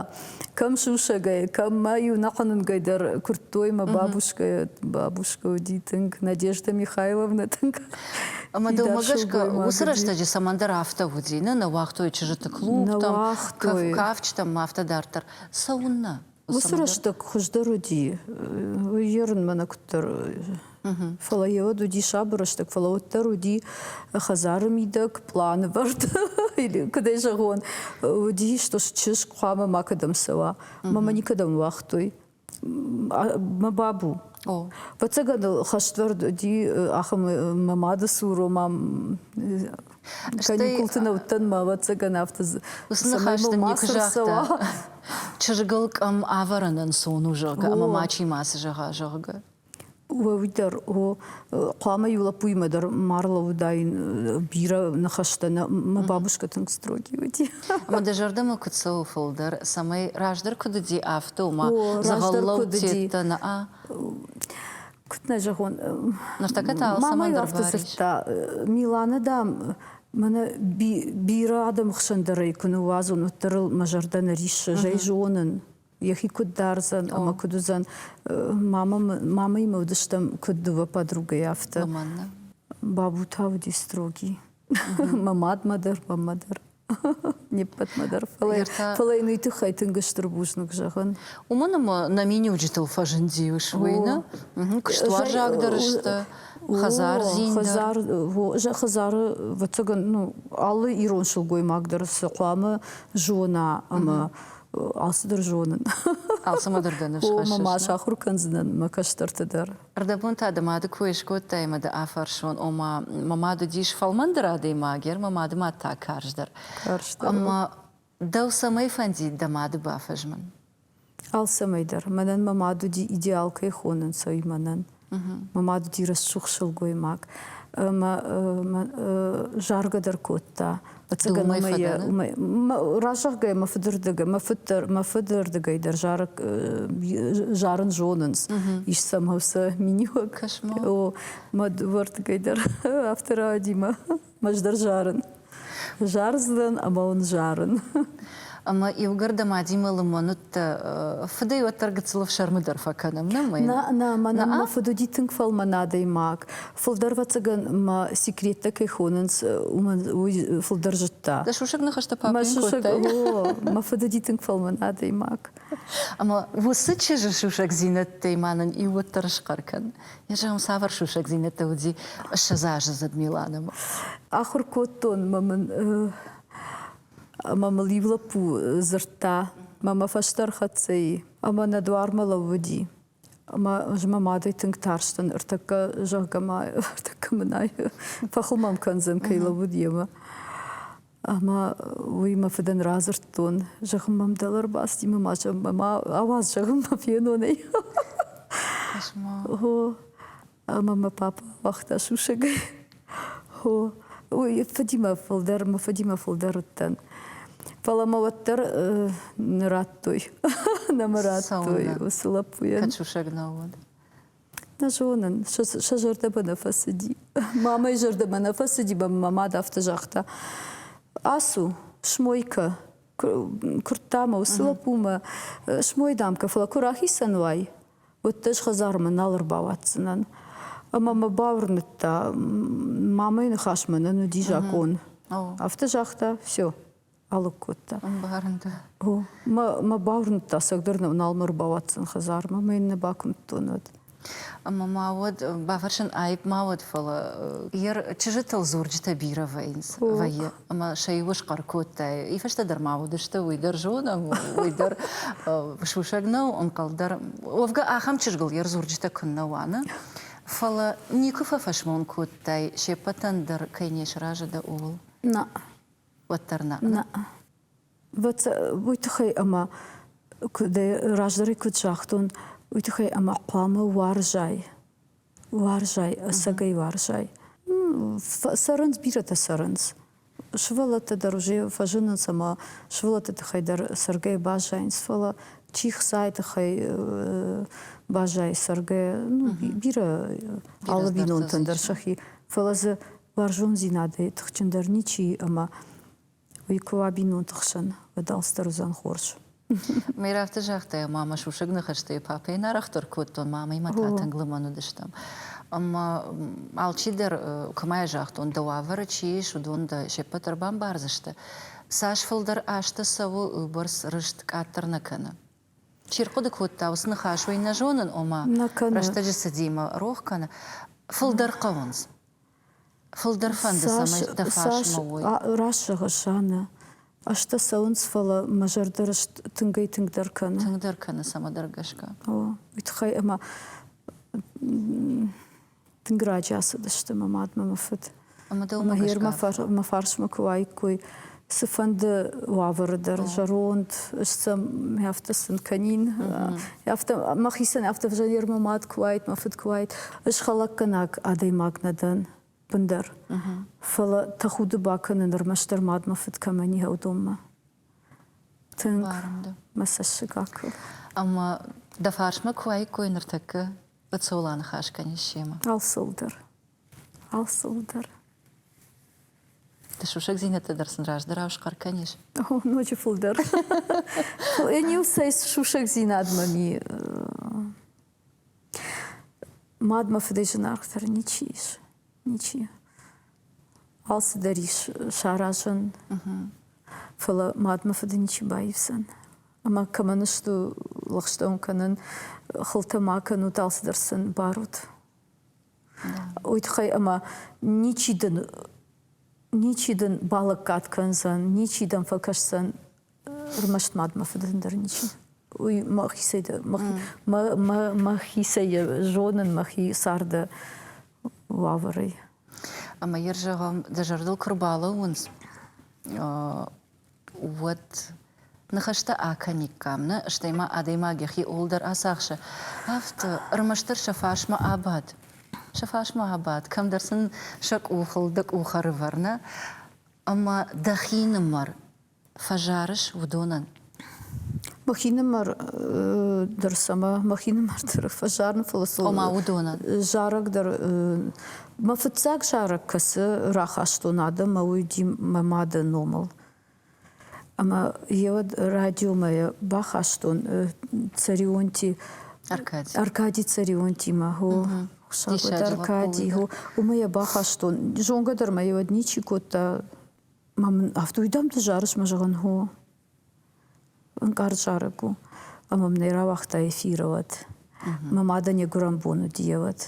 Кӕм сусӕгӕй, кӕм мӕ-иу нӕхъӕнӕнгӕй дӕр куырдтой мӕ бабушкӕ, бабушкӕ уыди тынг, Надежда Михайловна тынг. Ӕмӕ дӕумӕ гӕсгӕ уыцы рӕстӕджы цӕмӕндӕр афтӕ уыди, нӕ нӕ уагътой чызджыты клубтӕм, кафджытӕм ма афтӕ дарддӕр. Цӕуыннӕ? Уыцы рӕстӕг хуыздӕр уыди, йе рынмӕ куыддӕр Фӕлӕ йеуӕд уыди сабыр рӕстӕг, фӕлӕ уӕддӕр уыди хӕдзары мидӕг, планвӕрд, или, куыдӕй зӕгъон, уыди, што чызг хъуамӕ макӕдӕм цӕуа. Мамӕ никӕдӕм нуагътой. мӕ бабу Фӕцӕгӕн хӕствӕрд ди ахӕм мӕ мады цуро мам каникулты нӕуттӕн мӕ вӕццӕгӕн афтӕ чызгыл къӕм ӕвӕрын ӕнцон у зӕгъгӕ ӕмӕ мачи мацы зӕгъа зӕгъгӕ Уӕ уый дӕр, о, хъуамӕ иу лӕппуимӕ дӕр ма ӕрлӕууыдаин бирӕ ныхӕстӕ, нӕ мӕ бабушкӕ тынг строгий уыди. Ӕмӕ дӕ зӕрдӕмӕ куыд цӕуы фылдӕр, цӕмӕй раздӕр куыд уыди, афтӕ ома дзӕгъӕллӕуд федтӕ нӕ? Куыд нӕ зӕгъон? Ныртӕккӕ та алцӕмӕн дӕр барыст. Миланы, дам, мӕнӕ бирӕ адӕмы хсӕн дӕр ӕй куы ныууадзон, уӕддӕр ыл мӕ зӕрдӕ нӕ риссы, зӕй зонын. йӕхи куыд дардзӕн ӕмӕ куыд уыдзӕн мамӕимӕ уыдыстӕм куыд дыууӕ подругӕйы афтӕ бабу та уыди строгий мӕ мадмӕ дӕр маммӕ дӕр не ппӕтмӕ дӕр фӕлӕ фӕлӕ йын уый тыххӕй тынг стыр бузныг зӕгъын уымӕн ӕмӕ нӕ миниуджытыл фӕзынди уысвойны куыстуарзагдӕр сты хӕдзардзин хӕдзар хӕдзары вӕццӕгӕн ну алы ирон сылгоймаг дӕр цы хъуамӕ зона ӕмӕ Алцыдӕр зонын. Алцӕмӕ дӕр дӕ ныфс хӕссыс? Ма сахуыр кӕндзынӕн мӕ кӕстӕрты дӕр. Ӕрдӕбон та дӕ мады кой скодтай ӕмӕ дӕ афӕрсон, ома, мӕ мад уыдис фӕлмӕндӕр адӕймаг, ӕр мӕ мады мад та карздӕр. Карздӕр. Ӕмӕ дӕу цӕмӕй фӕндид дӕ мады бафӕзмын? Алцӕмӕй дӕр. Мӕнӕн мӕ мад уыди, идеал кӕй хонынц ӕй мӕнӕн. мӕ мадуди рӕсугъд сылгоймаг мӕ заргӕдӕр кодта разӕгъгӕ мӕ фыдырдыгӕй мӕ фыддӕр мӕ фыдырдыгӕй дӕр зары зарын зонынц ис сӕмӕ сӕ миниуӕг мӕ дывӕрдыгӕй дӕр афтӕ рауади мӕ Ӕз дӕр зарын. Зардзынӕн ӕмӕ уын зарын. Ӕмӕ иугӕр дӕ мадимӕ лымӕн уыдтӕ, фыдӕй уӕддӕр гыццыл ӕфсӕрмы дӕр фӕкӕнӕм, нӕ мӕй? Нӕ, нӕ, мӕнӕн мӕ фыд уыди тынг фӕлмӕн адӕймаг. Фылдӕр ӕвӕццӕгӕн мӕ секреттӕ кӕй хонынц, уымӕн уый фылдӕр зыдта. Дӕ сусӕг ныхӕстӕ папӕ йын кодтай? О, мӕ фыд уыди тынг фӕлмӕн адӕймаг. Ӕмӕ уыцы чызджы сусӕгдзинӕдтӕй ма нын иууӕддӕр схъӕр кӕн. Зӕгъӕм, цавӕр сусӕгдзинӕдтӕ уыди ссӕдз азы зыд Миланомӕ? Ахуыр кодтон мӕ мын ӕмӕ мыл иу лӕппу дзырдта мӕ фӕстӕ ӕрхӕццӕ ӕмӕ нӕ дуармӕ лӕууыди. Ӕмӕ ӕз мӕ мадӕй тынг тарстӕн, ӕртӕккӕ, зӕгъгӕ ма, ӕртӕккӕ мын ӕй фӕхуымӕм кӕндзӕн, кӕй лӕууыд йемӕ. Ӕмӕ уый мӕ фыдӕн радзырдтон, зӕгъын мӕм дӕлӕр бацыди, мӕ ма ауадз, зӕгъын мӕ фенонӕй. Хо, ӕмӕ мӕ папа ауагъта сусӕгӕй. Хо, уый фыдимӕ фылдӕр, мӕ фыдимӕ фылдӕр уыдтӕн. Фӕлӕ мӕ уӕддӕр нӕ радтой. Нӕ мӕ радтой уыцы лӕппуйӕн. Кӕд сусӕг нӕ уыд? Нӕ зонын, сӕ зӕрдӕмӕ нӕ фӕцыди. Мамӕйы зӕрдӕмӕ нӕ фӕцыди, мӕ мад афтӕ загъта. Ацу, смой кӕ куырдта мӕ уыцы лӕппумӕ, смой, дам, кӕ, фӕлӕ куы рахицӕн уай, уӕд дӕ ӕз хӕдзармӕ нал ӕрбауадздзынӕн. Ӕмӕ мӕ бауырныдта, мамӕйы ныхасмӕ нӕн уыди закъон. Афтӕ загъта, все. алыг кодта. Ӕмбарын дӕ. О, мӕ бауырныдта, сӕгдӕр нал мӕ рбауадздзӕн хӕдзармӕ, мӕ йын нӕ бакуымдтон уӕд. Ӕмӕ ма уӕд бафӕрсын аипп ма уӕд, фӕлӕ йе чызджытыл дзурджытӕ бирӕ вӕййынц, вӕййы, ӕмӕ сӕ иуы схъӕр кодтай. Ифӕстӕ дӕр ма уыдысты, уый дӕр зонӕм, уый дӕр сусӕг нӕу, ӕнхъӕл дӕр. Уӕвгӕ, ахӕм чызгыл йе рдзурджытӕ куыннӕ уӕны. Фӕлӕ никуы фӕфӕсмон кодтай, се ппӕтӕн дӕр кӕй не сразы дӕ ууыл. Нӕ, уӕддӕр нӕ. Нӕ. Вот уый тыххӕй ӕмӕ куыд раздӕр куыд загътон, уый тыххӕй ӕмӕ хъуамӕ уарзай. Уарзай, ӕцӕгӕй уарзай. Цӕрынц, бирӕтӕ цӕрынц. Сывӕллӕттӕ дӕр уже фӕзынынц ӕмӕ сывӕллӕтты тыххӕй дӕр цӕргӕ баззайынц, фӕлӕ чи хцайы тыххӕй баззайы цӕргӕ, ну, бирӕ алы бинонтӕн дӕр сӕхи. Фӕлӕ дзы Уарзондзинадӕй тыхджындӕр ничи и ӕмӕ уый куы уа бинонты хсӕн, уӕд алцыдӕр уыдзӕн хорз. Мӕй рафты загътай, ма мӕ сусӕг ныхӕстӕй папӕйӕн арӕхдӕр кодтон, мамӕимӕ та тынг лымӕн уыдыстӕм. Ӕмӕ алчидӕр, куы ма йӕ загътон, дӕ уавӕры чи ис, уыдон дӕ се ппӕт ӕрбамбардзысты. Цас фылдӕр азты цӕуы, уый бӕрц рыст къаддӕр нӕ кӕны. Чи рхъуыды кодта, уыцы ныхас уый нӕ зонын, ома рӕстӕджы цыди мӕ рох кӕны. Фылдӕр хъӕуынц. Фылдӕр фӕнды, цӕмӕй дӕ фарсмӕ уой. Раст зӕгъыс, Анна. Азтӕ цӕуынц, фӕлӕ мӕ зӕрдӕ рыст тынгӕй-тынгдӕр кӕны. Тынгдӕр кӕны цӕмӕдӕр гӕсгӕ. О, уый тыххӕй ӕмӕ тынг раджы ацыдысты мӕ мадмӕ мӕ фыд. Ӕмӕ дӕу мӕ фарсмӕ куы уаиккой, цыфӕнды уавӕры дӕр зӕронд сӕм афтӕ сын кӕнин афтӕ мӕхицӕн афтӕ ӕвзӕрермы мад куы уайд мӕ фыд куы уайд ӕз хӕлӕггӕнаг адӕймаг нӕ дӕн бындӕр фӕлӕ тӕхуды бакӕнын ӕрмӕстдӕр мадмӕ фыд кӕмӕн и уыдонмӕ тынг мӕ цӕссыг акы ӕмӕ дӕ фарсмӕ куы уаиккой ныртӕккӕ Ыцола ныхас кӕнис семӕ алцыл дӕр Алцыуы дӕр. Ты сусӕгдзинӕдтӕ дӕр сын раздӕрау схъӕр кӕнис? О, ноджы фылдӕр. Ӕниу цӕй сусӕгдзинадмӕ ми мадмӕ фыдӕй зынаргъдӕр ничи ис. Ничи. Алцыдӕр ис саразӕн. Фӕлӕ мадмӕ фыды ничи баивдзӕн. Ӕмӕ кӕмӕн сты лӕгъстӕ уын кӕнын, хылтӕ ма кӕнут, алцыдӕр сын барут. уый тыххӕй ӕмӕ ничи дын ничи дын балӕггад кӕндзӕн, ничи дӕм фӕкӕсдзӕн ӕрмӕст мад мӕ фыдӕн дӕр ничи. Уый мӕхицӕй дӕ, мӕхицӕй зонын мӕхи царды уавӕрӕй. Ӕмӕ йӕ зӕгъӕм, дӕ зӕрдыл куы рбалӕууынц уӕд ныхӕстӕ акӕниккам, нӕ? Стӕй ма адӕймаг йӕхи ууыл дӕр ацахсы, афтӕ, ӕрмӕстдӕр сӕ фарсмӕ абад, сӕ фарсмӕ абад, кӕмдӕр сын сӕ къухыл дӕ къух ӕрывӕр, нӕ? Ӕмӕ дӕхинымӕр фӕзарыс уыдонӕн? Мӕ хинымӕр дӕр цӕмӕ? Мӕ хинымӕр дӕр фӕзарын, фӕлӕ сыл. Ома уыдонӕн. Зарӕг дӕр Мӕ фыццаг зарӕг кӕцы рахастон адӕммӕ, уый уыди мӕ мады номыл. Ӕмӕ йӕ уӕд радиомӕ йӕ бахастон Царионти Аркади. Аркади Царионтимӕ, хо. Хсӕвод Аркади, хо. Уымӕ йӕ бахастон. Зонгӕ дӕр мӕ йӕ уӕд ничи кодта. Ма мын афтӕ уый дам ты зарыс мӕ зӕгъын, хо. Ӕнкъард зарӕг у, ӕмӕ мын ӕй рауагъта эфиры уӕд. Мӕ мадӕн йӕ гуырӕн бон уыди йӕ уӕд.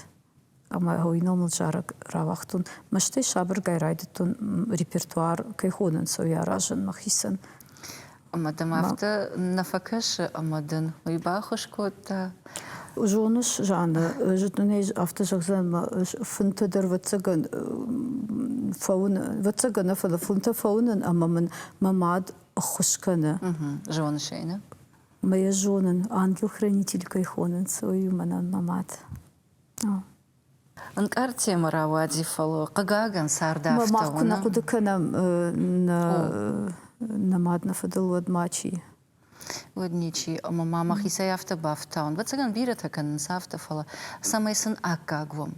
Ӕмӕ уый ном мыл зарӕг рауагътон. Мӕстӕй сабыргай райдыдтон репертуар кӕй хонынц, уый аразын мӕхицӕн. Ӕмӕ дӕм афтӕ нӕ фӕкӕсы, ӕмӕ дын уый баххуыс кодта? Зоныс, Жанна, зыдтон ӕй афтӕ зӕгъдзӕн мӕ фынты дӕр вӕццӕгӕн фӕуынын, вӕццӕгӕн нӕ, фӕлӕ фынтӕ фӕуынын ӕмӕ мын мӕ мад ӕххуыс кӕны. Зоныс ӕй, нӕ? Мӕ йӕ зонын, ангел-хранитель кӕй хонынц, уый у мӕнӕн мӕ мад. Ӕнкъард темӕ рауади, фӕлӕ, хъыгагӕн, цардӕфтӕ уынӕм. Мӕ мад куы нӕ хъуыды кӕнӕм нӕ мад нӕ фӕдыл, уӕд мачи. уӕд ничи. Ӕмӕ ма мӕхицӕй афтӕ бафтауын. Ӕвӕццӕгӕн бирӕтӕ кӕнынц афтӕ, фӕлӕ цӕмӕй сын аккаг уӕм.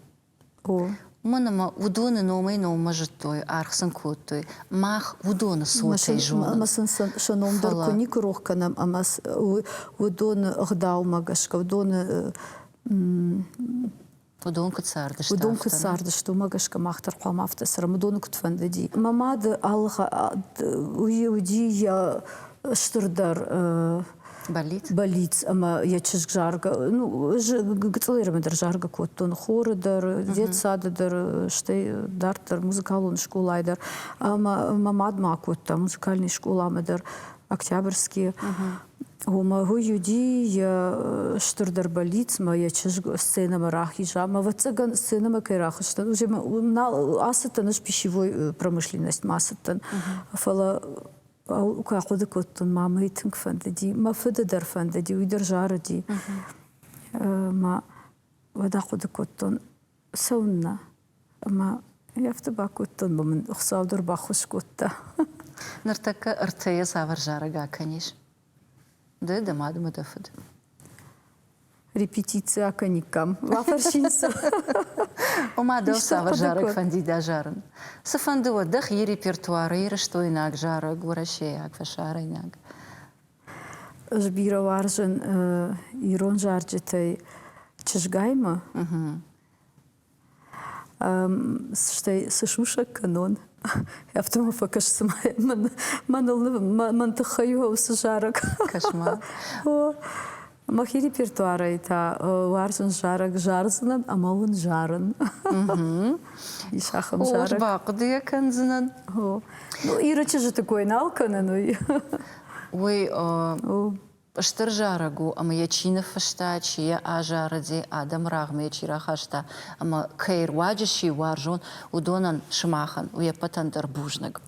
О. Уымӕн ӕмӕ уыдоны номӕй-номмӕ зыдтой, аргъ сын кодтой. Мах уыдоны цотӕй зонӕм. Ӕмӕ сын сӕ ном дӕр куы никуы рох кӕнӕм, ӕмӕ уыдоны ӕгъдаумӕ гӕсгӕ уыдоны Уыдон куыд цардысты? Уыдон куыд цардысты, уымӕ гӕсгӕ мах дӕр хъуамӕ афтӕ цӕрӕм. Уыдоны куыд фӕндыди? Мӕ мады алы уыди йӕ стырдӕр Болиц. Болиц ӕмӕ йӕ чызг заргӕ, ну, гыцъылермӕ дӕр заргӕ кодтон, хоры дӕр, детсады дӕр, стӕй дарддӕр музыкалон скъолайы дӕр. Ӕмӕ мӕ мад ма кодта музыкальный скъоламӕ дӕр, Октябрьские. Гомӕгуй Юди йе стурдӕр бӕллицмӕ йӕ чызг сценӕмӕ рахиза ӕмӕ ӕвӕццӕгӕн сценӕмӕ кӕй рахызтӕн, уый ацыдтӕн ӕз пищевой промышленностьмӕ ацыдтӕн, фӕлӕ куы ахъуыды кодтон, ма мӕй тынг фӕндыди, мӕ фыды дӕр фӕндыди, уый дӕр зарыди. Ма уӕд ахъуыды кодтон, цӕуыннӕ? Ӕмӕ ӕлӕфты бакодтон, ӕмӕ мын Хуыцау дӕр баххуыс кодта. Ныртӕккӕ ӕртӕйӕ цавӕр зарӕг акӕнис? Ды дӕ мад ӕмӕ дӕ фыд. Репетици акӕниккам. Бафӕрсин сыл. Ома дӕу цавӕр зарӕг фӕнди дӕ зарын? Цыфӕнды уӕ, дӕхи репертуары ирыстойнаг зарӕг, уӕрӕсейаг, фӕсарӕйнаг. Ӕз бирӕ уарзын ирон зарджытӕй чызгаймӕ. стӕй цы сусӕг кӕнон афтӕ ма фӕкӕс цыма мӕн тыххӕй у уыцы зарӕг кӕс-ма мӕхи репертуарӕй та уарзын зарӕг зардзынӕн ӕмӕ уын зарын ис ахӕм зарӕг бахъуыдыйӕ кӕндзынӕн иры чызджыты кой нал кӕнын уый уый Стыр зарӕг у, ӕмӕ йӕ чи ныффыста, чи йӕ азарыди, адӕмы рӕгъмӕ йӕ чи рахаста ӕмӕ кӕй руаджы чи уарзон, уыдонӕн, сымахӕн, уе ппӕтӕн дӕр бузныг.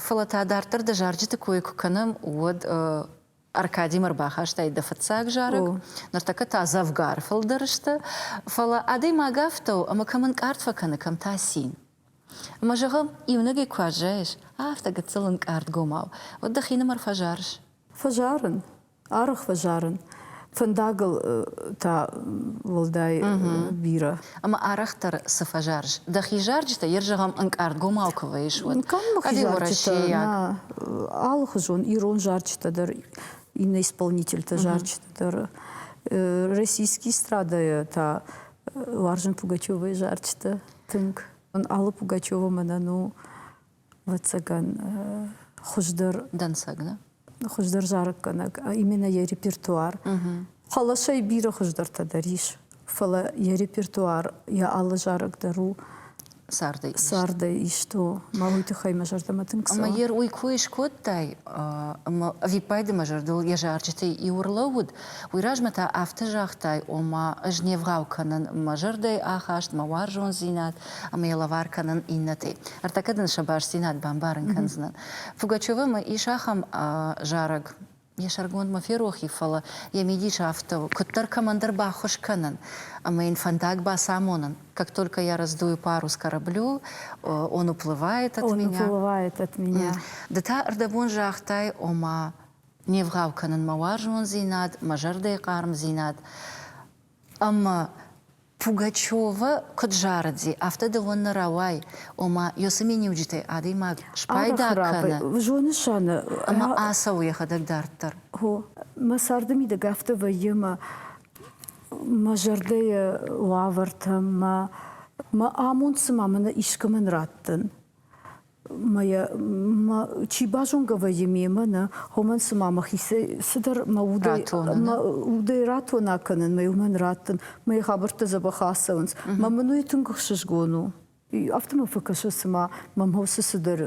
Фӕлӕ та дарддӕр дӕ зарджыты кой куы кӕнӕм, уӕд Аркадимӕ рбахастаид дӕ фыццаг зарӕг, ныртӕккӕ та дзӕвгар фылдӕр сты, фӕлӕ адӕймаг афтӕ у, ӕмӕ кӕм ӕнкъард фӕкӕны, кӕм та цин. Ӕмӕ, зӕгъӕм, иунӕгӕй куы аззайыс, афтӕ гыццыл ӕнкъардгомау, уӕд дӕхинымӕр фӕзарыс? Фӕзарын, арӕх фӕзарын, фӕндагыл та уӕлдай бирӕ. ӕмӕ арӕхдӕр цы фӕзарыс? Дӕхи зарджытӕ ер зӕгъӕм ӕнкъардгомау куы вӕйыс, уӕд. Къаммыхи зарджытӕ, алыхуызон ирон зарджытӕ дӕр, иннӕ исполнительтӕ зарджытӕ дӕр, российские страдайы та уарзын Пугачевайы зарджытӕ тынг. Алла Пугачева мӕнӕн у Лӕццӕгӕн хуыздӕр дӕнцӕг нӕ хуыздӕр зарӕггӕнӕг именно йӕ репертуар хъӕлӕсӕй бирӕ хуыздӕртӕ дӕр ис фӕлӕ йӕ репертуар йӕ алы зарӕг дӕр у цардӕй цардӕй исто мӕ уый тыххӕй мӕ зӕрдӕмӕ тынг цӕуы ӕмӕ уый кой скодтай ӕмӕ ӕвиппайды мӕ зӕрдыл йӕ зарджытӕй иу ӕрлӕууыд Уый размӕ та афтӕ загътай, ома ӕз не вгъау кӕнын мӕ зӕрдӕйы ахаст, мӕ уарзондзинад ӕмӕ йӕ лӕвар кӕнын иннӕтӕй. Ӕртӕкӕ дын сӕ бастдзинад бамбарын кӕндзынӕн. Пугачевы мӕ ис ахӕм зарӕг, йӕ сӕргонд мӕ ферохи, фӕлӕ йӕ мидис афтӕ у, куыддӕр кӕмӕндӕр баххуыс кӕнын ӕмӕ йын фӕндаг бацамонын, как только я раздую пару с кораблю, он уплывает от меня. Он уплывает от меня. Ды та ӕрдӕбон загътай, ома не вгъау кӕнын мӕ уарзондзинад, мӕ зӕрдӕйы хъармдзинад ӕмӕ Пугачевы куыд зарыди, афтӕ дыгъуын нӕ рауай, ома ёсы миниуджытӕй адӕймаг спайда кӕны, зонысаны ӕмӕ ацӕуы йӕхӕдӕг дарддӕр. Хо, мӕ царды мидӕг афтӕ вӕййы мӕ мӕ зӕрдӕйы уавӕртӕ, мӕ мӕ амонд цыма мӕнӕ искӕмӕн раттын. чи базонгӕ вӕййы мемӕ нӕ, хомӕн цыма мӕхицӕй цыдӕр мӕ удӕй ратона кӕнын, мӕ уымӕн раттын, мӕ хабӕрттӕ дзӕбӕх ацӕуынц. Мӕ мын уый тынг ӕхсызгон у. Афтӕ мӕ фӕкӕсы, цыма мӕм хъусы цыдӕр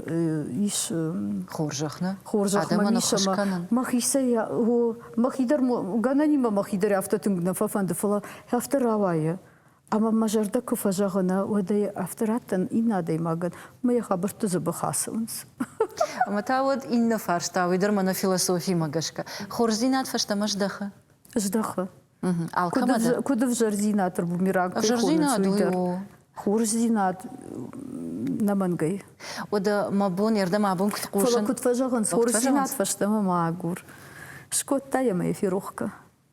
ис. Хорзӕх нӕ? Хорзӕх мӕ мӕхицӕй о, мӕхи дӕр, гӕнӕн и мӕ мӕхи дӕр афтӕ тынг нӕ фӕфӕнды, фӕлӕ афтӕ рауайы. Ӕмӕ мӕ зӕрдӕ куы фӕзӕгъына, уӕд ӕй афтӕ раттын иннӕ адӕймагӕн, ӕмӕ йӕ хабӕртты дзыбы хӕцынц. Ӕмӕ та уӕд иннӕ фарст та, уый дӕр мӕнӕ философимӕ гӕсгӕ, хорздзинад фӕстӕмӕ здӕхы? Здӕхы. Алкӕмӕ дӕр. Куыд ӕвзӕрдзинад бумеранг кӕй хонынц, уый дӕр. Хорздзинад нӕ мӕнгӕй. Уӕдӕ мӕ бон, ӕрдӕм абон куыд хъусын? Фӕлӕ куыд фӕзӕгъынц, хорздзинад фӕстӕмӕ ма агур. Скодта йӕ мӕ ферохка.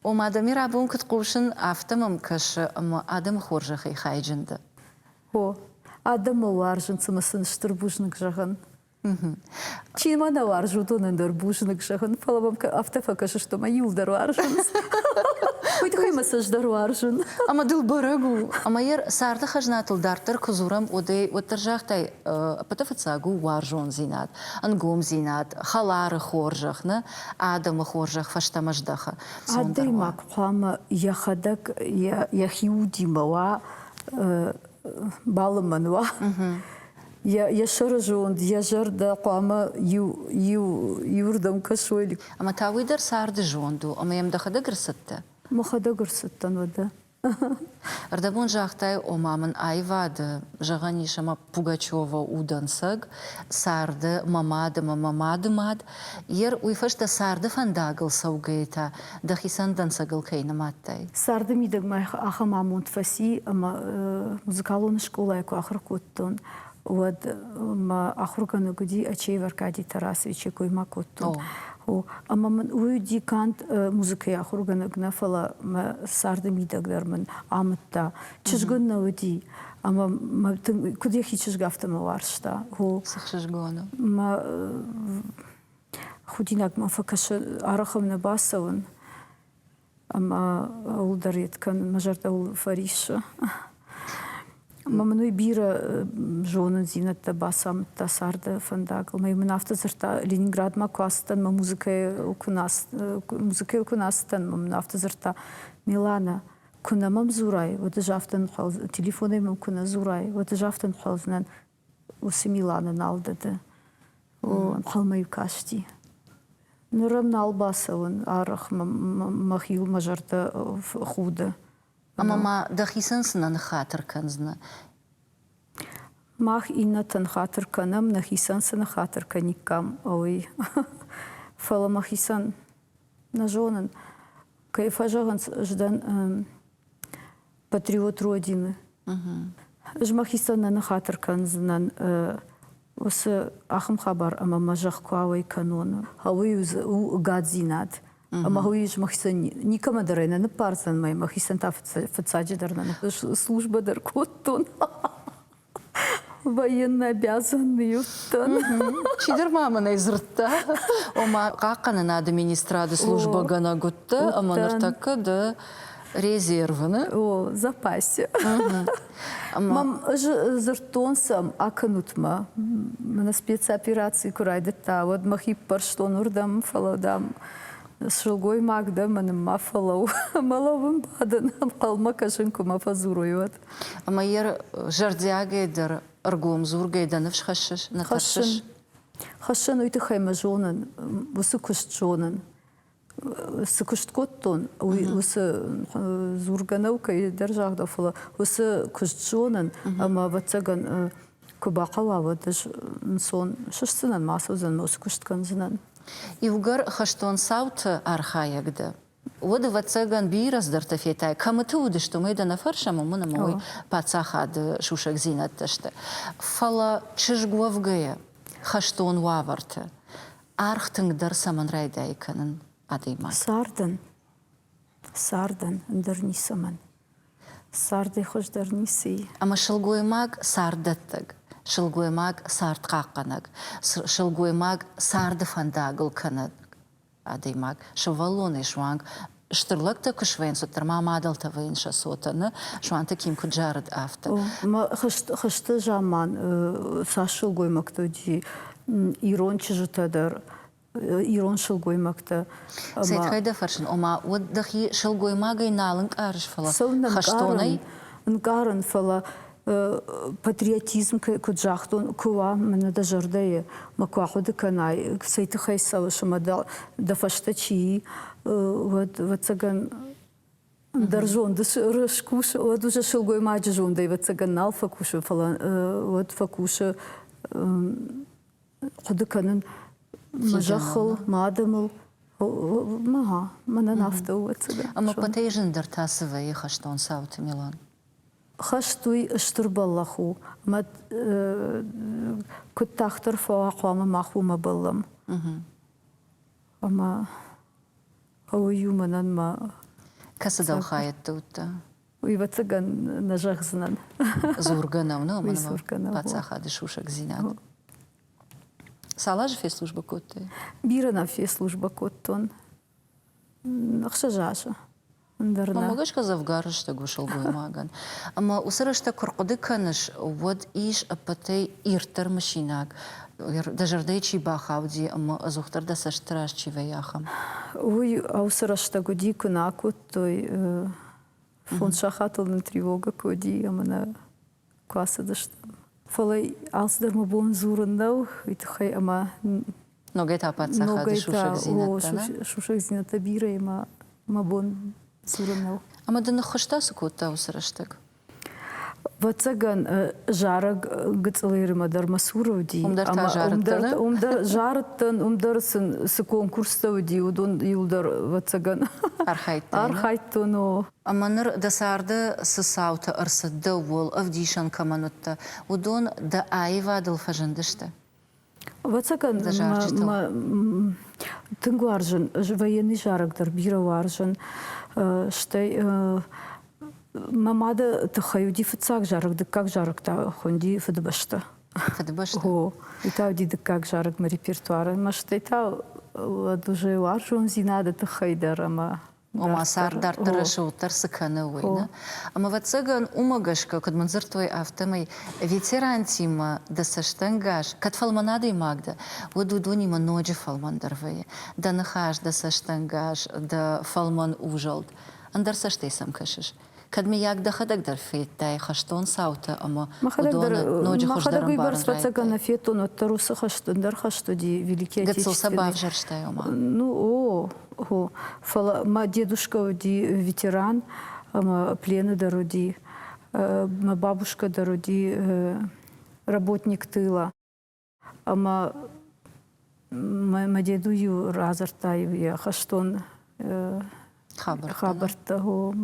Ома, дӕ мирабон куыд хъусын, афтӕ мӕм кӕсы ӕмӕ адӕмы хорзӕхӕй хайджын дӕ. О, адӕммӕ уарзын цымӕ сын стыр бузныг зӕгъын? Чи ма нӕ уарзы, уыдонӕн дӕр бузныг зӕгъын, фӕлӕ мӕм афтӕ фӕкӕсыс, ӕмӕ иуылдӕр уарзынц. Уый тыххӕй мӕ цӕстдӕр уарзын. Ӕмӕ дыл бӕрӕг у, ӕмӕ йӕ царды хӕзнатыл дарддӕр куы дзурӕм, уӕдӕй уӕддӕр загътай, Ӕппӕты фыццаг у уарзондзинад, ӕнгомдзинад, хӕлары хорзӕх нӕ адӕмы хорзӕх фӕстӕмӕ здӕхы. Адӕймаг хъуамӕ йӕхӕдӕг йӕхи удимӕ уа, балымӕн уа. Йӕ сӕрызонд, йӕ зӕрдӕ хъуамӕ иу иу иуырдӕм кӕсой. Ӕмӕ та уый дӕр царды зонд у, ӕмӕ йӕм дӕхӕдӕг ӕрцыдтӕ? Мӕхӕдӕг ӕрцыдтӕн, уӕдӕ. Ӕрдӕбон загътай, ома мын аивады, зӕгъӕн ис ӕмӕ Пугачева у дӕнцӕг, царды мӕ мад ӕмӕ мӕ мады мад, йер уый фӕстӕ царды фӕндагыл цӕугӕйы та дӕхицӕн дӕнцӕгыл кӕй нымадтай? Царды мидӕгмӕ ахӕм амонд фӕци, ӕмӕ музыкалон скъолайы куы ахуыр кодтон, уӕд мӕ ахургӕнӕг уыди Ачеев Аркадий Тарасовичы койма кодтон. О. Ӕмӕ мын уый уыди канд музыкӕйы ахургӕнӕг нӕ, фӕлӕ мӕ царды мидӕг дӕр мын амыдта. Чызг ын нӕ уыди, ӕмӕ мӕ тынг куыд йӕхи чызг, афтӕ мӕ уарзта. О. Цы чызгон у? Мӕ худинаг мӕ фӕкӕсы арӕхыл нӕ бацӕуын. ӕмӕ ууыл дӕр йед кӕн, мӕ зӕрдӕ фӕриссы. Ӕмӕ мын уый бирӕ зонындзинӕдтӕ бацамыдта царды фӕндагыл. Мӕ мын афтӕ дзырдта, Ленинградмӕ куы ацыдтӕн, мӕ музыкӕйыл куы музыкӕйыл куы нӕ ацыдтӕн, мӕ мын афтӕ дзырдта, Милана, куы нӕ мӕм дзурай, уӕд ӕз афтӕ нхъӕлдзынӕн, телефонӕй мӕм куы нӕ дзурай, уӕд ӕз афтӕ нхъӕлдзынӕн, уыцы Миланы нал дыды. О, ӕнхъӕлмӕ-иу касти. Ныр ӕм нал бацӕуын арӕх, мӕхиуыл мӕ зӕрдӕ худы. Ӕмӕ ма дӕхицӕн цынӕ ныххатыр кӕндзынӕ? Мах иннӕтӕн хатыр кӕнӕм, нӕхицӕн цы ныххатыр кӕниккам, ой. Фӕлӕ мӕхицӕн нӕ зонын. Кӕй фӕзӕгъынц, ӕз дӕн патриот родины. Ӕз мӕхицӕн нӕ ныхатыр кӕндзынӕн уыцы ахӕм хабар ӕмӕ мӕ зӕхх куы ауӕй кӕнон. Уый у гадзинад. Ӕмӕ уый ис мӕхицӕн никӕмӕ дӕр ӕй нӕ ныппардзӕн мӕй, мӕхицӕн та фыццаджы дӕр нӕ службӕ дӕр кодтон. военнообязанный чидӕр ма мын ӕй дзырдта ома хъахъхъӕнынады министрады службӕгӕнӕг уыдтӕ ӕмӕ ныртӕккӕ дӕ резервы не о запасе мӕм дзырдтон сӕм акӕнут-ма мӕнӕ спецопераци куы райдыдта уӕд мӕхи ппӕрстон уырдӕм фӕлӕ дам сылгоймаг дӕ мӕнмӕ фӕлӕу мӕ лӕуын бадын ӕнхъӕлмӕ кӕсын куы мӕ фӕдзурой уӕд Ӕмӕ йӕ зӕрдиагӕй дӕр ӕргом дзургӕй дӕ ныфс хӕссыс, нӕ тӕрсыс? Хӕссын, уый тыххӕй мӕ зонын, уыцы куыст зонын. Цы куыст кодтон, уый уыцы дзургӕ нӕу кӕйдӕр загъдӕу, фӕлӕ уыцы куыст зонын, ӕмӕ ӕвӕццӕгӕн куы бахъӕуа, уӕд ӕз ӕнцон сыстдзынӕн, ма ацӕудзӕн ноджы куыст кӕндзынӕн. Иугӕр хӕстон цауты архайӕг дӕ, Уӕд, ӕвӕццӕгӕн, бирӕ цыдӕртӕ фетай. Кӕмыты уыдысты, уымӕй дӕ нӕ фӕрсӕм, уымӕн ӕмӕ уый паддзахады сусӕгдзинӕдтӕ сты. Фӕлӕ чызг уӕвгӕйӕ, хӕстон уавӕрты аргъ тынгдӕр цӕмӕн райдайы кӕнын адӕймаг? Цардӕн. Цардӕн ӕндӕр ницӕмӕн. Цардӕй хуыздӕр ницы и. Ӕмӕ сылгоймаг царддӕттӕг, сылгоймаг цардхъахъхъӕнӕг, сылгоймаг царды фӕндагыл кӕнӕг адӕймаг сывӕллонӕй суанг стыр лӕгтӕ куы суӕнт, уӕддӕр ма мадӕлтӕ вӕййынц сӕ цотӕны, суанты Ким куыд зарыд, афтӕ. Хызты заман цас сылгоймӕгтыл уыди ирон чызджытӕ дӕр ирон сылгоймӕгтӕ. Светкай дӕ фӕрсын, ома уӕд дӕхи сылгоймагӕй нал ӕнкъарыс, фӕлӕ хӕстонӕй? Ӕнкъарын, фӕлӕ патриотизм куыд загътон, куы уа мӕнӕ дӕ зӕрдӕйы, мӕ куы ахъуыды кӕнай, цӕй тыххӕй цӕуыс ӕмӕ дӕ, дӕ фӕстӕ чи и, уӕд, ӕвӕццӕгӕн, дӕр зонды скус, уӕд уже сылгоймаджы зондӕй ӕвӕццӕгӕн нал фӕкусы, фӕлӕ уӕд фӕкусы хъуыды кӕнын мӕ зӕххыл, мӕ адӕмыл, ма мӕнӕн афтӕ у цыдӕр. Ӕмӕ пъатӕй зындӕр та цы вӕййы хӕстон цауты, Милан? Хӕст уый стыр бӕллӕх у, ӕмӕ куыд тагъддӕр фӕуа хъуамӕ мах уымӕ бӕллӕм. Ӕмӕ уый у мӕнӕн мӕ. Кӕцы дӕлхайӕдты уыдтӕ? Ӕвӕццӕгӕн нӕ зӕгъдзынӕн. Дзургӕ нӕу нӕ уымӕн паддзахады сусӕгдзинад. Цал азы фӕслужбӕ кодтай? Бирӕ нӕ фӕслужбӕ кодтон. Ӕхсӕз азы. Ӕндӕр нӕ. Мӕ гӕсгӕ дзӕвгар рӕстӕг у сылгоймагӕн. Ӕмӕ уыцы рӕстӕг куы рхъуыды кӕныс, уӕд ис ӕппӕтӕй ирддӕр мысинаг, дӕ зӕрдӕйы чи бахауди ӕмӕ ӕдзухдӕр дӕ цӕстыты раз чи вӕййы, ахӕм. Уый уыцы рӕстӕг уыди, куы нӕ кодтой фондз сахатыл нын тревога куы уыди ӕмӕ нӕ куы ацыдыстӕм фӕлӕ алцыдӕр мӕ бон дзурын нӕу уый тыххӕй ӕмӕ ногӕй та паддзахады сусӕгдзинӕдтӕ сусӕгдзинӕдтӕ бирӕ ӕмӕ мӕ бон дзурын нӕу ӕмӕ дын ныххуыста цы кодта уыцы рӕстӕг Вӕццӕгӕн зарӕг Гыцъылеримӕ дӕр мӕ цур уыди. Уым дӕр та зарыдтӕ? Уым дӕр зарыдтӕн, уым дӕр сын цы конкурстӕ уыди, уыдон иуыл дӕр вӕццӕгӕн архайдтон. Архайдтон, о. Ӕмӕ ныр дӕ царды цы цаутӕ ӕрцыд, дӕ уӕл ӕвдисӕн кӕмӕн уыдтӕ, уыдон дӕ аивадыл фӕзындысты? Ӕвӕццӕгӕн, тынг уарзын, военный зарӕг дӕр бирӕ уарзын, стӕй мӕ мады тыххӕй уыди фыццаг зарӕг, дыккаг зарӕг та хуынди Фыдыбӕстӕ. Фыдыбӕстӕ. О, и та уыди дыккаг зарӕг мӕ репертуары, мӕ стӕй та уӕд уже уарзондзинады тыххӕй дӕр ӕмӕ ома цард дарддӕр рӕсугъддӕр цы кӕны, уый. Нӕ? Ӕмӕ, ӕвӕццӕгӕн, уымӕ гӕсгӕ, куыд мын дзырдтой, афтӕмӕй ветерантимӕ дӕ цӕстӕнгас, кӕд фӕлмӕн адӕймаг дӕ, уӕд уыдонимӕ ноджы фӕлмӕндӕр вӕййы, дӕ ныхас, дӕ цӕстӕнгас, дӕ фӕлмӕн узӕлд, ӕндӕр цӕстӕй сӕм кӕсыс, Кӕд, мыййаг, дӕхӕдӕг дӕр федтай хӕстон цаутӕ ӕмӕ уыдоны ноджы хуыздӕр ӕмбарынбӕрцӕттӕ кӕнӕ федтон, уӕддӕр уыцы хӕст ӕндӕр хӕст уыди Великий Гыццыл сӕ бавзӕрстай, ома? Ну, о, о. Фӕлӕ мӕ дедушкӕ уыди ветеран ӕмӕ плены дӕр уыди. Мӕ бабушкӕ дӕр уыди работник тыла. Ӕмӕ мӕ деду-иу радзырдта-иу йӕ хӕстон хабӕрттӕ,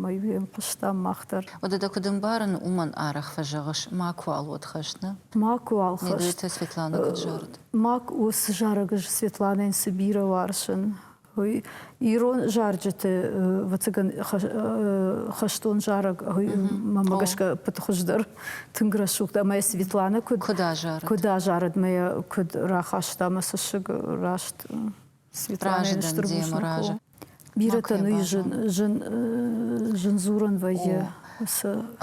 мӕ-иу йӕм хъуыстам мах дӕр. Уӕдӕ куыд ӕмбарын, уымӕн арӕх фӕзӕгъыс, макуыуал уӕд хӕст, нӕ? Макуыуал хӕст. Медуйты Светланӕ куыд зарыд? Мак уыцы зарӕг Светланӕйӕн цы бирӕ уарзын, ирон зарджыты вӕцӕгӕн хӕстон зарӕг мӕмӕ гӕсгӕ пыты хуыздӕр тынг рӕсугъд ӕмӕ Светлана куыд куыд азарыд куыд азарыд мӕ куыд рахаста мӕ цӕссыг раст Светлана разы бирӕтӕ ну зын дзурын вӕййы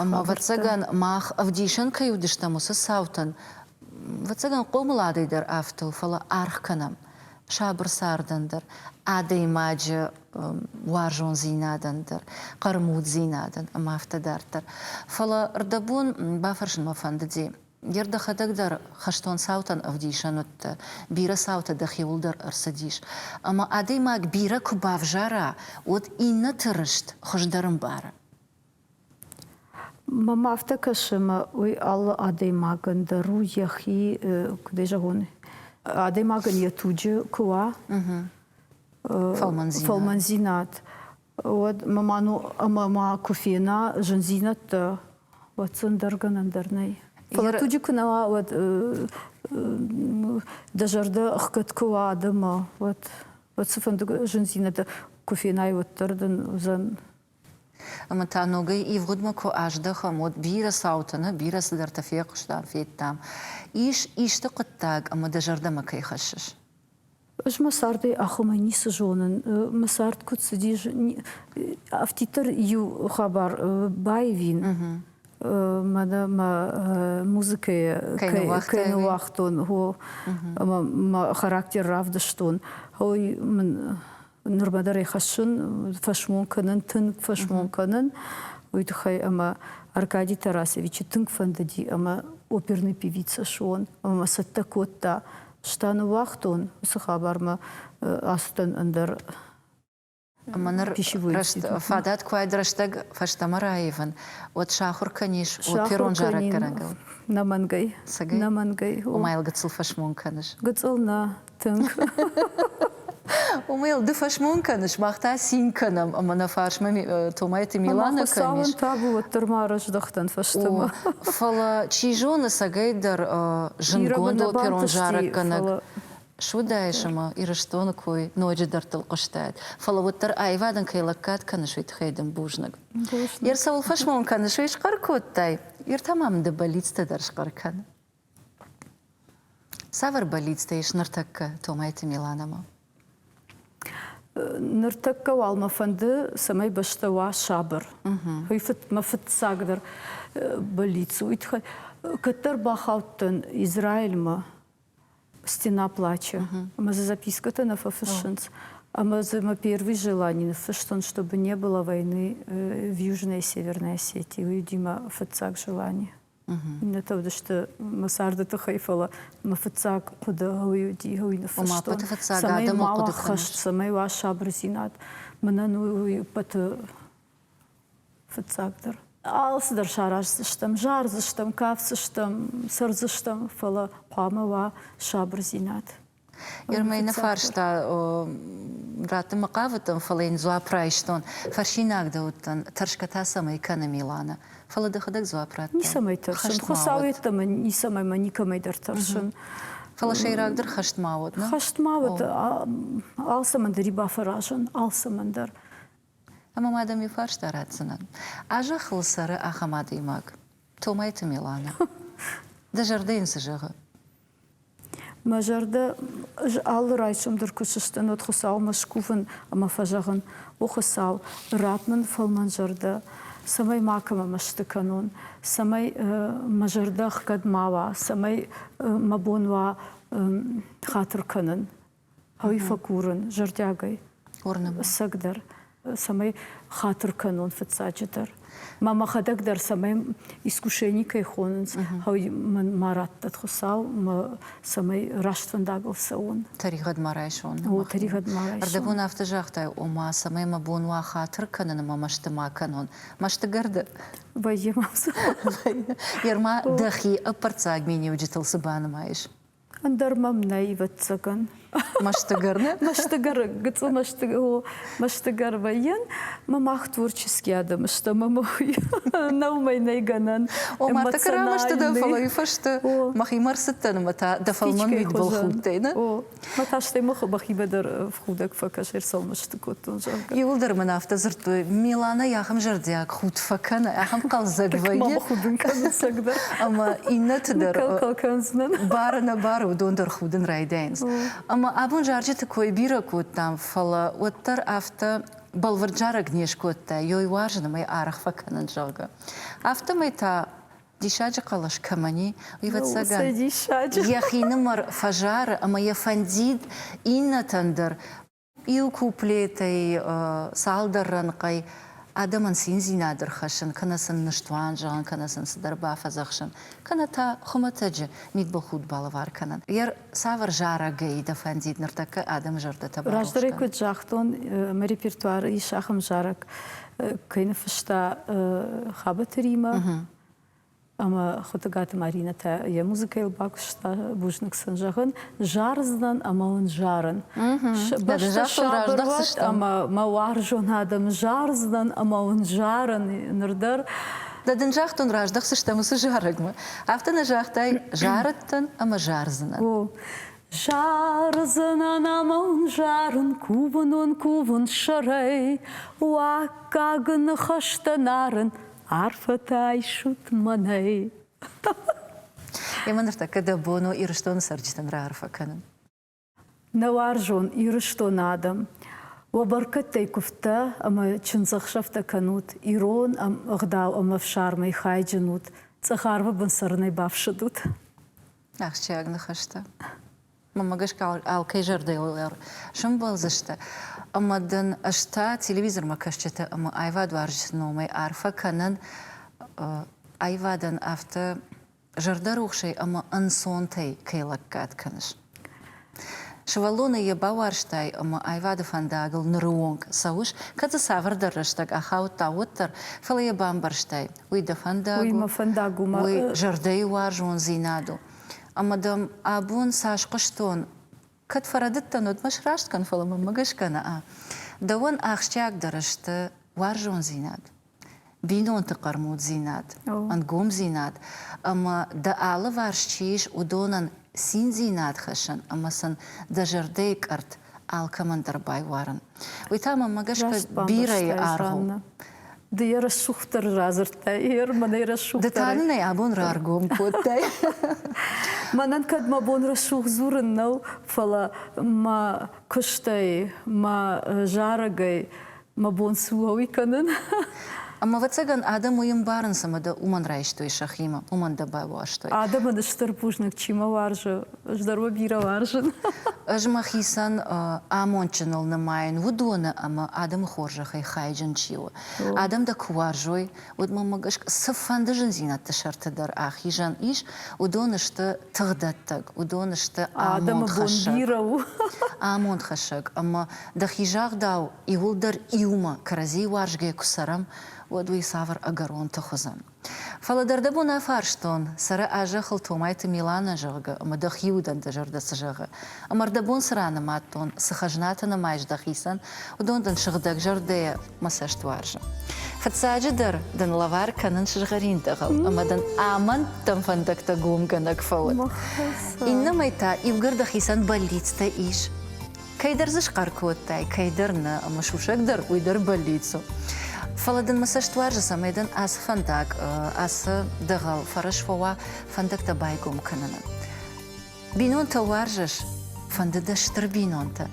ӕмӕ вӕцӕгӕн мах ӕвдисӕн кӕй уыдыстӕм уыцы цаутӕн вӕцӕгӕн хъомыладӕй дӕр афтыл фӕлӕ аргъ кӕнӕм сабыр цардӕн дӕр, адӕймаджы уарзондзинадӕн дӕр, хъӕрмуддзинадӕн ӕмӕ афтӕ дарддӕр. Фӕлӕ рдӕбон бафӕрсын мӕ фӕндыди, Гер дӕхӕдӕг дӕр хӕстон цаутӕн ӕвдисӕн уыдтӕ, бирӕ цаутӕ дӕхиуыл дӕр ӕрцыдис. Ӕмӕ адӕймаг бирӕ куы бавзара, уӕд иннӕты рыст хуыздӕр ӕмбары. Мӕм афтӕ кӕсы, ӕмӕ уый алы адӕймагӕн дӕр у йӕхи, куыд ӕй зӕгъон, адӕймагӕн йӕ туджы куы уа фӕлмӕндзинад, уӕд ма ма ну ӕмӕ ма куы фена зындзинӕдтӕ, уӕд сын дӕр гӕнӕн дӕр нӕй. Фӕлӕ туджы куы нӕ уа, уӕд дӕ зӕрдӕ ӕхгӕд куы уа адӕмы, уӕд, уӕд цыфӕнды зындзинӕдтӕ куы фенай, уӕддӕр дын уыдзӕн Ӕмӕ та ногӕй ивгъуыдмӕ куы аздӕхӕм, уӕд бирӕ цаутӕ нӕ, бирӕ цыдӕртӕ фехъуыстам, федтам. Ис исты хъуыддаг, ӕмӕ дӕ зӕрдӕмӕ кӕй хӕссыс? Ӕз мӕ цардӕй ахуымӕй ницы зонын. Мӕ цард куыд цыдис, афтиддӕр иу хабар баивин. Мӕнӕ мӕ музыкӕйы кӕй ныуагътон, ӕмӕ мӕ характер равдыстон. Ой, мын нырма дӕр ӕй хӕссын, фӕсмон кӕнын, тынг фӕсмон кӕнын, уый тыххӕй ӕмӕ Аркадий Тарасевичы тынг фӕндыди ӕмӕ оперный певица суон ӕмӕ цӕттӕ кодта. Стан уагътон уыцы хабармӕ ацыдӕн ӕндӕр ӕмӕ ныр рӕст, фадат куы уайд рӕстӕг фӕстӕмӕ раивын, уӕд сахуыр кӕнис оперон зарӕггӕнӕгыл? Нӕ мӕнгӕй. Нӕ мӕнгӕй. Ома йыл гыццыл фӕсмон кӕныс? Гыццыл нӕ, Тынг. Уымӕл ды фӕсмон кӕныс, мах та цин кӕнӕм, ӕмӕ нӕ фарсмӕ Томайты Милана кӕнис. табу уӕддӕр ма рӕздӕхтӕн фӕстӕмӕ. Фӕлӕ, чи зоны, сӕгӕйдӕр зындгонд оперон зарӕггӕнӕг суыдаис ӕмӕ Ирыстоны кой ноджы дӕрдтыл хъуыстаид. Фӕлӕ уӕддӕр аивадӕн кӕй лӕггад кӕныс, уый тыххӕй дын бузныг. Йе рцӕуыл фӕсмон кӕныс, уый схъӕр кодтай? Ир та ма мын дӕ бӕллицтӕ дӕр схъӕр кӕны. Цавӕр бӕллицтӕ ис ныртӕккӕ Томайты Миланамӕ? Ныртӕккӕ уал мӕ фӕнды, цӕмӕй бӕстӕ уа сабыр. Уый фыд, мӕ фыццагдӕр бӕллиц у уый тыххӕй. Кӕддӕр бахаудтӕн Израильмӕ стеноплачы, ӕмӕ дзы запискӕтӕ нӕ фӕфыссынц. Ӕмӕ дзы мӕ первый желание ныффыстон, чтобы не было войны в Южной и Северной Осетии. Уый уыди мӕ фыццаг желание. Иннӕтӕ уыдысты мӕ царды тыххӕй, фӕлӕ мӕ фыццаг хъуыды ӕуый уыди, ӕуый ныффыстон. цӕмӕй ма уа хӕст, цӕмӕй уа сабырдзинад. Мӕнӕн уый уппӕты фыццагдӕр. Алцыдӕр сараздзыстӕм, зардзыстӕм, кафдзыстӕм, цӕрдзыстӕм, фӕлӕ хъуамӕ уа сабырдзинад. Гермӕны фарста раттын мӕ хъавыдтӕн, фӕлӕ йын дзуапп райстон. Фӕрсинаг дӕ уыдтӕн, тӕрсгӕ та цӕмӕй кӕны Милана? Фӕлӕ дӕхӕдӕг дзуапп радтон. Ницӕмӕй тӕрсын, Хуыцау йеддӕмӕ ницӕмӕй мӕ никӕмӕй дӕр тӕрсын. Фӕлӕ сӕйрагдӕр хӕст ма уӕд, нӕ? Хӕст ма уӕд, алцӕмӕн дӕр и бафӕразын, алцӕмӕн дӕр. Ӕмӕ ма дӕм иу фарста ратдзынӕн. А зӕххыл цӕры ахӕм адӕймаг, Томайты Милана. Дӕ зӕрдӕ йын цы зӕгъы? Мӕ зӕрдӕ алы райсом дӕр куы сыстын, уӕд Хуыцаумӕ скувын ӕмӕ фӕзӕгъын, О Хуыцау, ратт мын фӕлмӕнзӕрдӕ, цӕмӕй макӕмӕ мӕсты кӕнон, цӕмӕй мӕ зӕрдӕ ӕхгӕд ма уа, цӕмӕй мӕ бон уа хатыр кӕнын. Ӕви фӕкурын зӕрдиагӕй ӕцӕгдӕр, цӕмӕй хатыр кӕнон фыццаджы дӕр? Ма мӕхӕдӕг дӕр цӕмӕй искушени кӕй хонынц, ау, мӕн ма радтӕд Хуыцау, мӕ цӕмӕй раст фӕндагыл цӕуон? Тӕригъӕд ма райсон. О, тӕригъӕд ма райсон. Ӕрдӕбон афтӕ загътай, ома, цӕмӕй мӕ бон уа хатыр кӕнын ӕмӕ мӕсты ма кӕнон. Мӕстыгӕрды? Вӕййы мӕм цы. Ерма дӕхи ӕппӕрццаг миниуджытыл цы банымайыс? Ӕндӕр мӕм нӕй, ӕвӕццӕгӕн. Мӕстыгӕр Мӕстыгӕр, гыцъы мӕстыгӕр вӕййын. Мӕ мах творческий адӕм сты ӕмӕ мӕ нӕу мӕй нӕй гӕнӕн. Ома, ты кӕрӕ мӕсты дӕ, фӕлӕ уый фӕстӕ мӕхимӕ ӕрцыдтӕн ӕмӕ та дӕ фӕлмӕн мидбыл худтӕй, нӕ? Мӕ та стӕй мӕ бӕхимӕ дӕр худӕг фӕкӕс ӕрцӕуыныс. сфӕсты кодтон, зӕгъгӕ. Иуылдӕр мын афтӕ дзырдтой, Миланӕ ахӕм зӕрдиаг худ фӕкӕны, ахӕм хъӕлдзӕг вӕййы. Худынкъӕдзӕсӕг дӕр ӕмӕ иннӕты дӕр бары нӕ бары, уыдон дӕр худын райдайынц. Ӕмӕ абон зарджыты кой бирӕ кодтам, фӕлӕ уӕддӕр афтӕ бӕлвырд зарӕг не скодта, йой уарзын ӕмӕ арӕх фӕкӕнын, зӕгъгӕ. Афтӕмӕй та диссаджы хъӕлӕс кӕмӕн и, ӕвӕццӕгӕн, йӕхинымӕр фӕзары ӕмӕ йӕ фӕндид иннӕтӕн дӕр Иу куплетӕй цалдӕр рӕнхъӕй адӕмӕн циндзинад ӕрхӕссын, кӕнӕ сын ныстуан зӕгъын, кӕнӕ сын цыдӕр бафӕдзӕхсын, кӕнӕ та хуымӕтӕджы мидбылхудт балӕвар кӕнын. Йӕ цавӕр зарӕгӕй дӕ фӕндид ныртӕккӕ адӕмы зӕрдӕтӕ барухс кӕнын? Раздӕрӕй куыд загътон, мӕ репертуар ис ахӕм зарӕг, кӕй ныффыста Хабӕты Римӕ, Ӕмӕ Хуытыгаты Маринӕтӕ йӕ музыкӕйыл бакуыста. Бузныг сын зӕгъын, зардзынӕн ӕмӕ уын зарын. Ӕмӕ мӕ уарзон адӕмы зардзынӕн ӕмӕ уын зарын ныр дӕр. Дӕ дын загътон, раздӕхдзыстӕм уыцы зарӕгмӕ. Афтӕ нӕ загътай, зарыдтӕн ӕмӕ зардзынӕн. О, зардзынӕн ӕмӕ уын зарын кувын уын кувын сӕрӕй, уаккаг ныхӕстӕ нарын Арфӕтӕ айсут мӕнӕй! Емӕ ныртӕккӕ дӕ бон у Ирыстоны цӕрджытӕн раарфӕ кӕнын. Нӕ уарзон Ирыстоны адӕм, уӕ бӕркӕдтӕй куывдтӕ ӕмӕ чындзӕхсӕвтӕ кӕнут, ирон ӕгъдау ӕмӕ ӕфсармӕй хайджын ут, цъӕх арвы бын цӕрынӕй бафсӕдут. Ахсджиаг ныхӕстӕ. Мамӕ гӕсгӕ алкӕй зӕрдӕйыл сӕмбӕлдзысты. Ӕмӕ дын ӕз та телевизормӕ кӕсджыты ӕмӕ аивадуарзджыты номӕй арфӕ кӕнын аивадӕн афтӕ зӕрдӕрухсӕй ӕмӕ ӕнцонтӕй кӕй лӕггад кӕныс. Сывӕллоны йӕ бауарзтай ӕмӕ аивады фӕндагыл ныры онг цӕуыс, кӕд дзы цавӕрдӕр рӕстӕг ахаудта, уӕддӕр, фӕлӕ йӕ бамбӕрстай, уый дӕ фӕндаг у, уый мӕ фӕндаг у, мӕ зӕрдӕйы уарзондзинад у. Ӕмӕ дӕм абон цас хъуыстон, кӕд фӕрӕдыдтӕн, уӕд мӕ сраст кӕн, фӕлӕ мӕнмӕ гӕсгӕ нӕ. Дӕуӕн ахсджиагдӕр сты уарзондзинад, бинонты хъӕрмуддзинад, ӕнгомдзинад ӕмӕ, дӕ алыварс чи ис, уыдонӕн циндзинад хӕссын ӕмӕ сын дӕ зӕрдӕйы къӕртт алкӕмӕн дӕр байуарын. Уый та мӕмӕ гӕсгӕ бирӕйы аргъ Ды йӕ рӕсугъддӕр радзырдтай, ер мӕнӕй рӕсугъддӕр. Ды та нын ӕй абон раргом кодтай. Мӕнӕн кӕд мӕ бон рӕсугъд дзурын нӕу, фӕлӕ мӕ куыстӕй, мӕ зарӕгӕй мӕ бон цы уа, уый кӕнын. Ӕмӕ, ӕвӕццӕгӕн, адӕм уый ӕмбарынц, ӕмӕ дӕ уымӕн райстой сӕхимӕ, уымӕн дӕ байуӕрстой. Адӕмӕн стыр бузныг, чи мӕ уарзы, Здорово, бирӕ уарзын. Ӕз мӕхицӕн амондджыныл нымайын уыдоны ӕмӕ адӕмы хорзӕхӕй хайджын чи у. Адӕм дӕ куы уарзой, уӕд мӕм цыфӕнды зындзинӕдты сӕрты дӕр ахизӕн ис, уыдон сты тыгъдӕттӕг, уыдон сты амондхӕссӕг. бирӕ у. амондхӕссӕг ӕмӕ дӕхи загъдау, иуылдӕр иумӕ кӕрӕдзийы уарзгӕ куы цӕрӕм, уӕд уый цавӕр ӕгӕрон тых уыдзӕн? Фӕлӕ дӕр дӕ бон афарстон, цӕры а-зӕххыл Томайты Миланӕ, зӕгъгӕ, ӕмӕ дӕхи удӕн дӕ зӕрдӕ цы зӕгъы? Ӕмӕ ӕрдӕбон цы ран амадтон, цы хӕзнатӕ нымайыс дӕхицӕн, уыдон дын сыгъдӕгзӕрдӕйӕ мӕ цӕст уарзы. Фыццаджыдӕр, дын лӕвар кӕнын сызгъӕрин дӕгъыл ӕмӕ дын амӕндтӕн фӕндӕгтӕ гомгӕнӕг фӕуын. Иннӕмӕй та иугӕр дӕхицӕн бӕллицтӕ ис, Кӕйдӕр дзы схъӕр кодтай, кӕйдӕр нӕ, ӕмӕ сусӕг дӕр уый дӕр бӕллиц у. Фӕлӕ дын мӕ цӕст уарзы, цӕмӕй дын ацы фӕндаг, ацы дӕгъӕл фӕрӕз фӕуа фӕндӕгтӕ байгом кӕнынӕн. Бинонтӕ уарзыс? Фӕнды дӕ стыр бинонтӕ,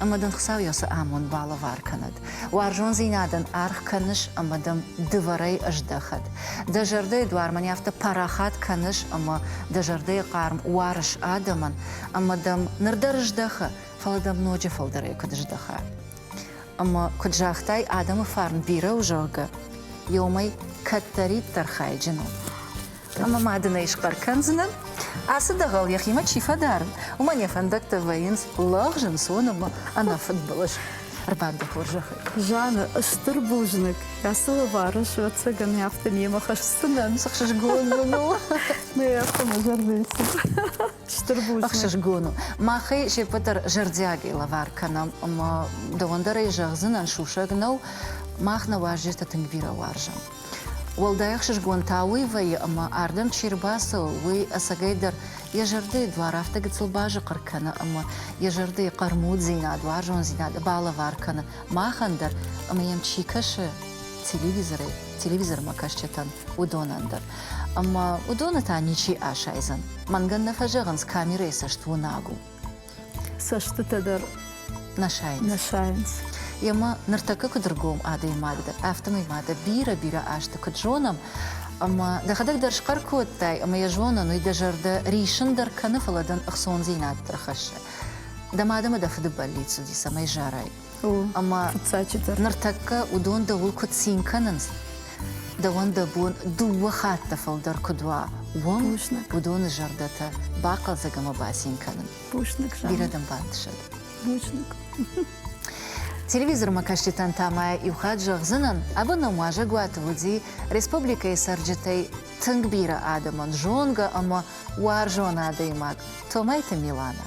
ӕмӕ дын Хуыцау йӕ цы амонд балӕвар кӕнӕд. Уарзондзинадӕн аргъ кӕныс ӕмӕ дӕм дывӕрӕй ӕздӕхӕд. Дӕ зӕрдӕйы дуар мӕн афтӕ парахат кӕныс, ӕмӕ дӕ зӕрдӕйы хъарм уарыс адӕмӕн, ӕмӕ дӕм ныр дӕр здӕхы, фӕлӕ дӕм ноджы фылдӕрӕй куыд здӕха. Ӕмӕ куыд загътай, адӕмы фарн бирӕ у, зӕгъгӕ, иомӕй кӕддӕриддӕр хайджын у. Ӕмӕ ма дын ӕй схъӕр кӕндзынӕн, ацы дӕгъӕл йӕхимӕ чи фӕдарын, уымӕн йӕ фӕндӕгтӕ вӕййынц лӕгъз, ӕнцон ӕмӕ ӕнӕфыдбылыз. Ӕрбадгӕ хорзӕхӕй. Заны, стыр бузныг. Ацы лывары суӕццӕгӕн афтӕ немӕ хӕсдзынӕн. Цы хсызгон мын у. Нӕ афтӕ мӕ зӕрдӕйы цыд. Стыр бузныг. Ӕхсызгон у. Махӕй се ппӕт дӕр зӕрдиагӕй лӕвар кӕнӕм ӕмӕ дӕуӕн дӕр ӕй зӕгъдзынӕн, сусӕг нӕу, мах нӕ уазджытӕ тынг бирӕ уарзӕм. Уӕлдай ӕхсызгон та уый вӕййы, ӕмӕ ардӕм чи рбацӕуы, уый ӕцӕгӕйдӕр йӕ зӕрдӕйы дуар афтӕ гыццыл базыхъыр кӕны ӕмӕ йӕ зӕрдӕйы хъӕрмуддзинад, уарзондзинад балӕвар кӕны махӕн дӕр ӕмӕ йӕм чи кӕсы телевизорӕй, телевизормӕкӕсджытӕн, уыдонӕн дӕр. ӕмӕ уыдоны та ничи асайдзӕн. Мӕнгӕн нӕ фӕзӕгъынц, камерӕйы цӕст уынаг у. Цӕстытӕ дӕр нӕ сайынц. Нӕ сайынц. Ема ныртӕккӕ куыд ргом адӕймаг дӕ, афтӕмӕй ма дӕ бирӕ-бирӕ азты куыд зонӕм, ӕмӕ дӕхӕдӕг дӕр схъӕр кодтай, ӕмӕ йӕ зонӕн уый дӕ зӕрдӕ риссын дӕр кӕны, фӕлӕ дын ӕхцондзинад дӕр хӕссы. Дӕ мад ӕмӕ дӕ фыды бӕллиц уыди, цӕмӕй зарай. Ӕмӕ ныртӕккӕ уыдон дӕуыл куыд цин кӕнынц, дӕуӕн дӕ бон дыууӕ хатты фылдӕр куыд уа, уым уыдоны зӕрдӕтӕ бахъӕлдзӕг ӕмӕ бацин кӕнын. Бузныг, Жанна. Бирӕ дӕм бантысӕд. Бузныг. Телевизормӕкӕсджытӕн та ма иу хатт зӕгъдзынӕн, абоном уазӕгуаты уыди республикӕйы цӕрджытӕй тынг бирӕ адӕмӕн зонгӕ ӕмӕ уарзон адӕймаг Томайты Миланӕ.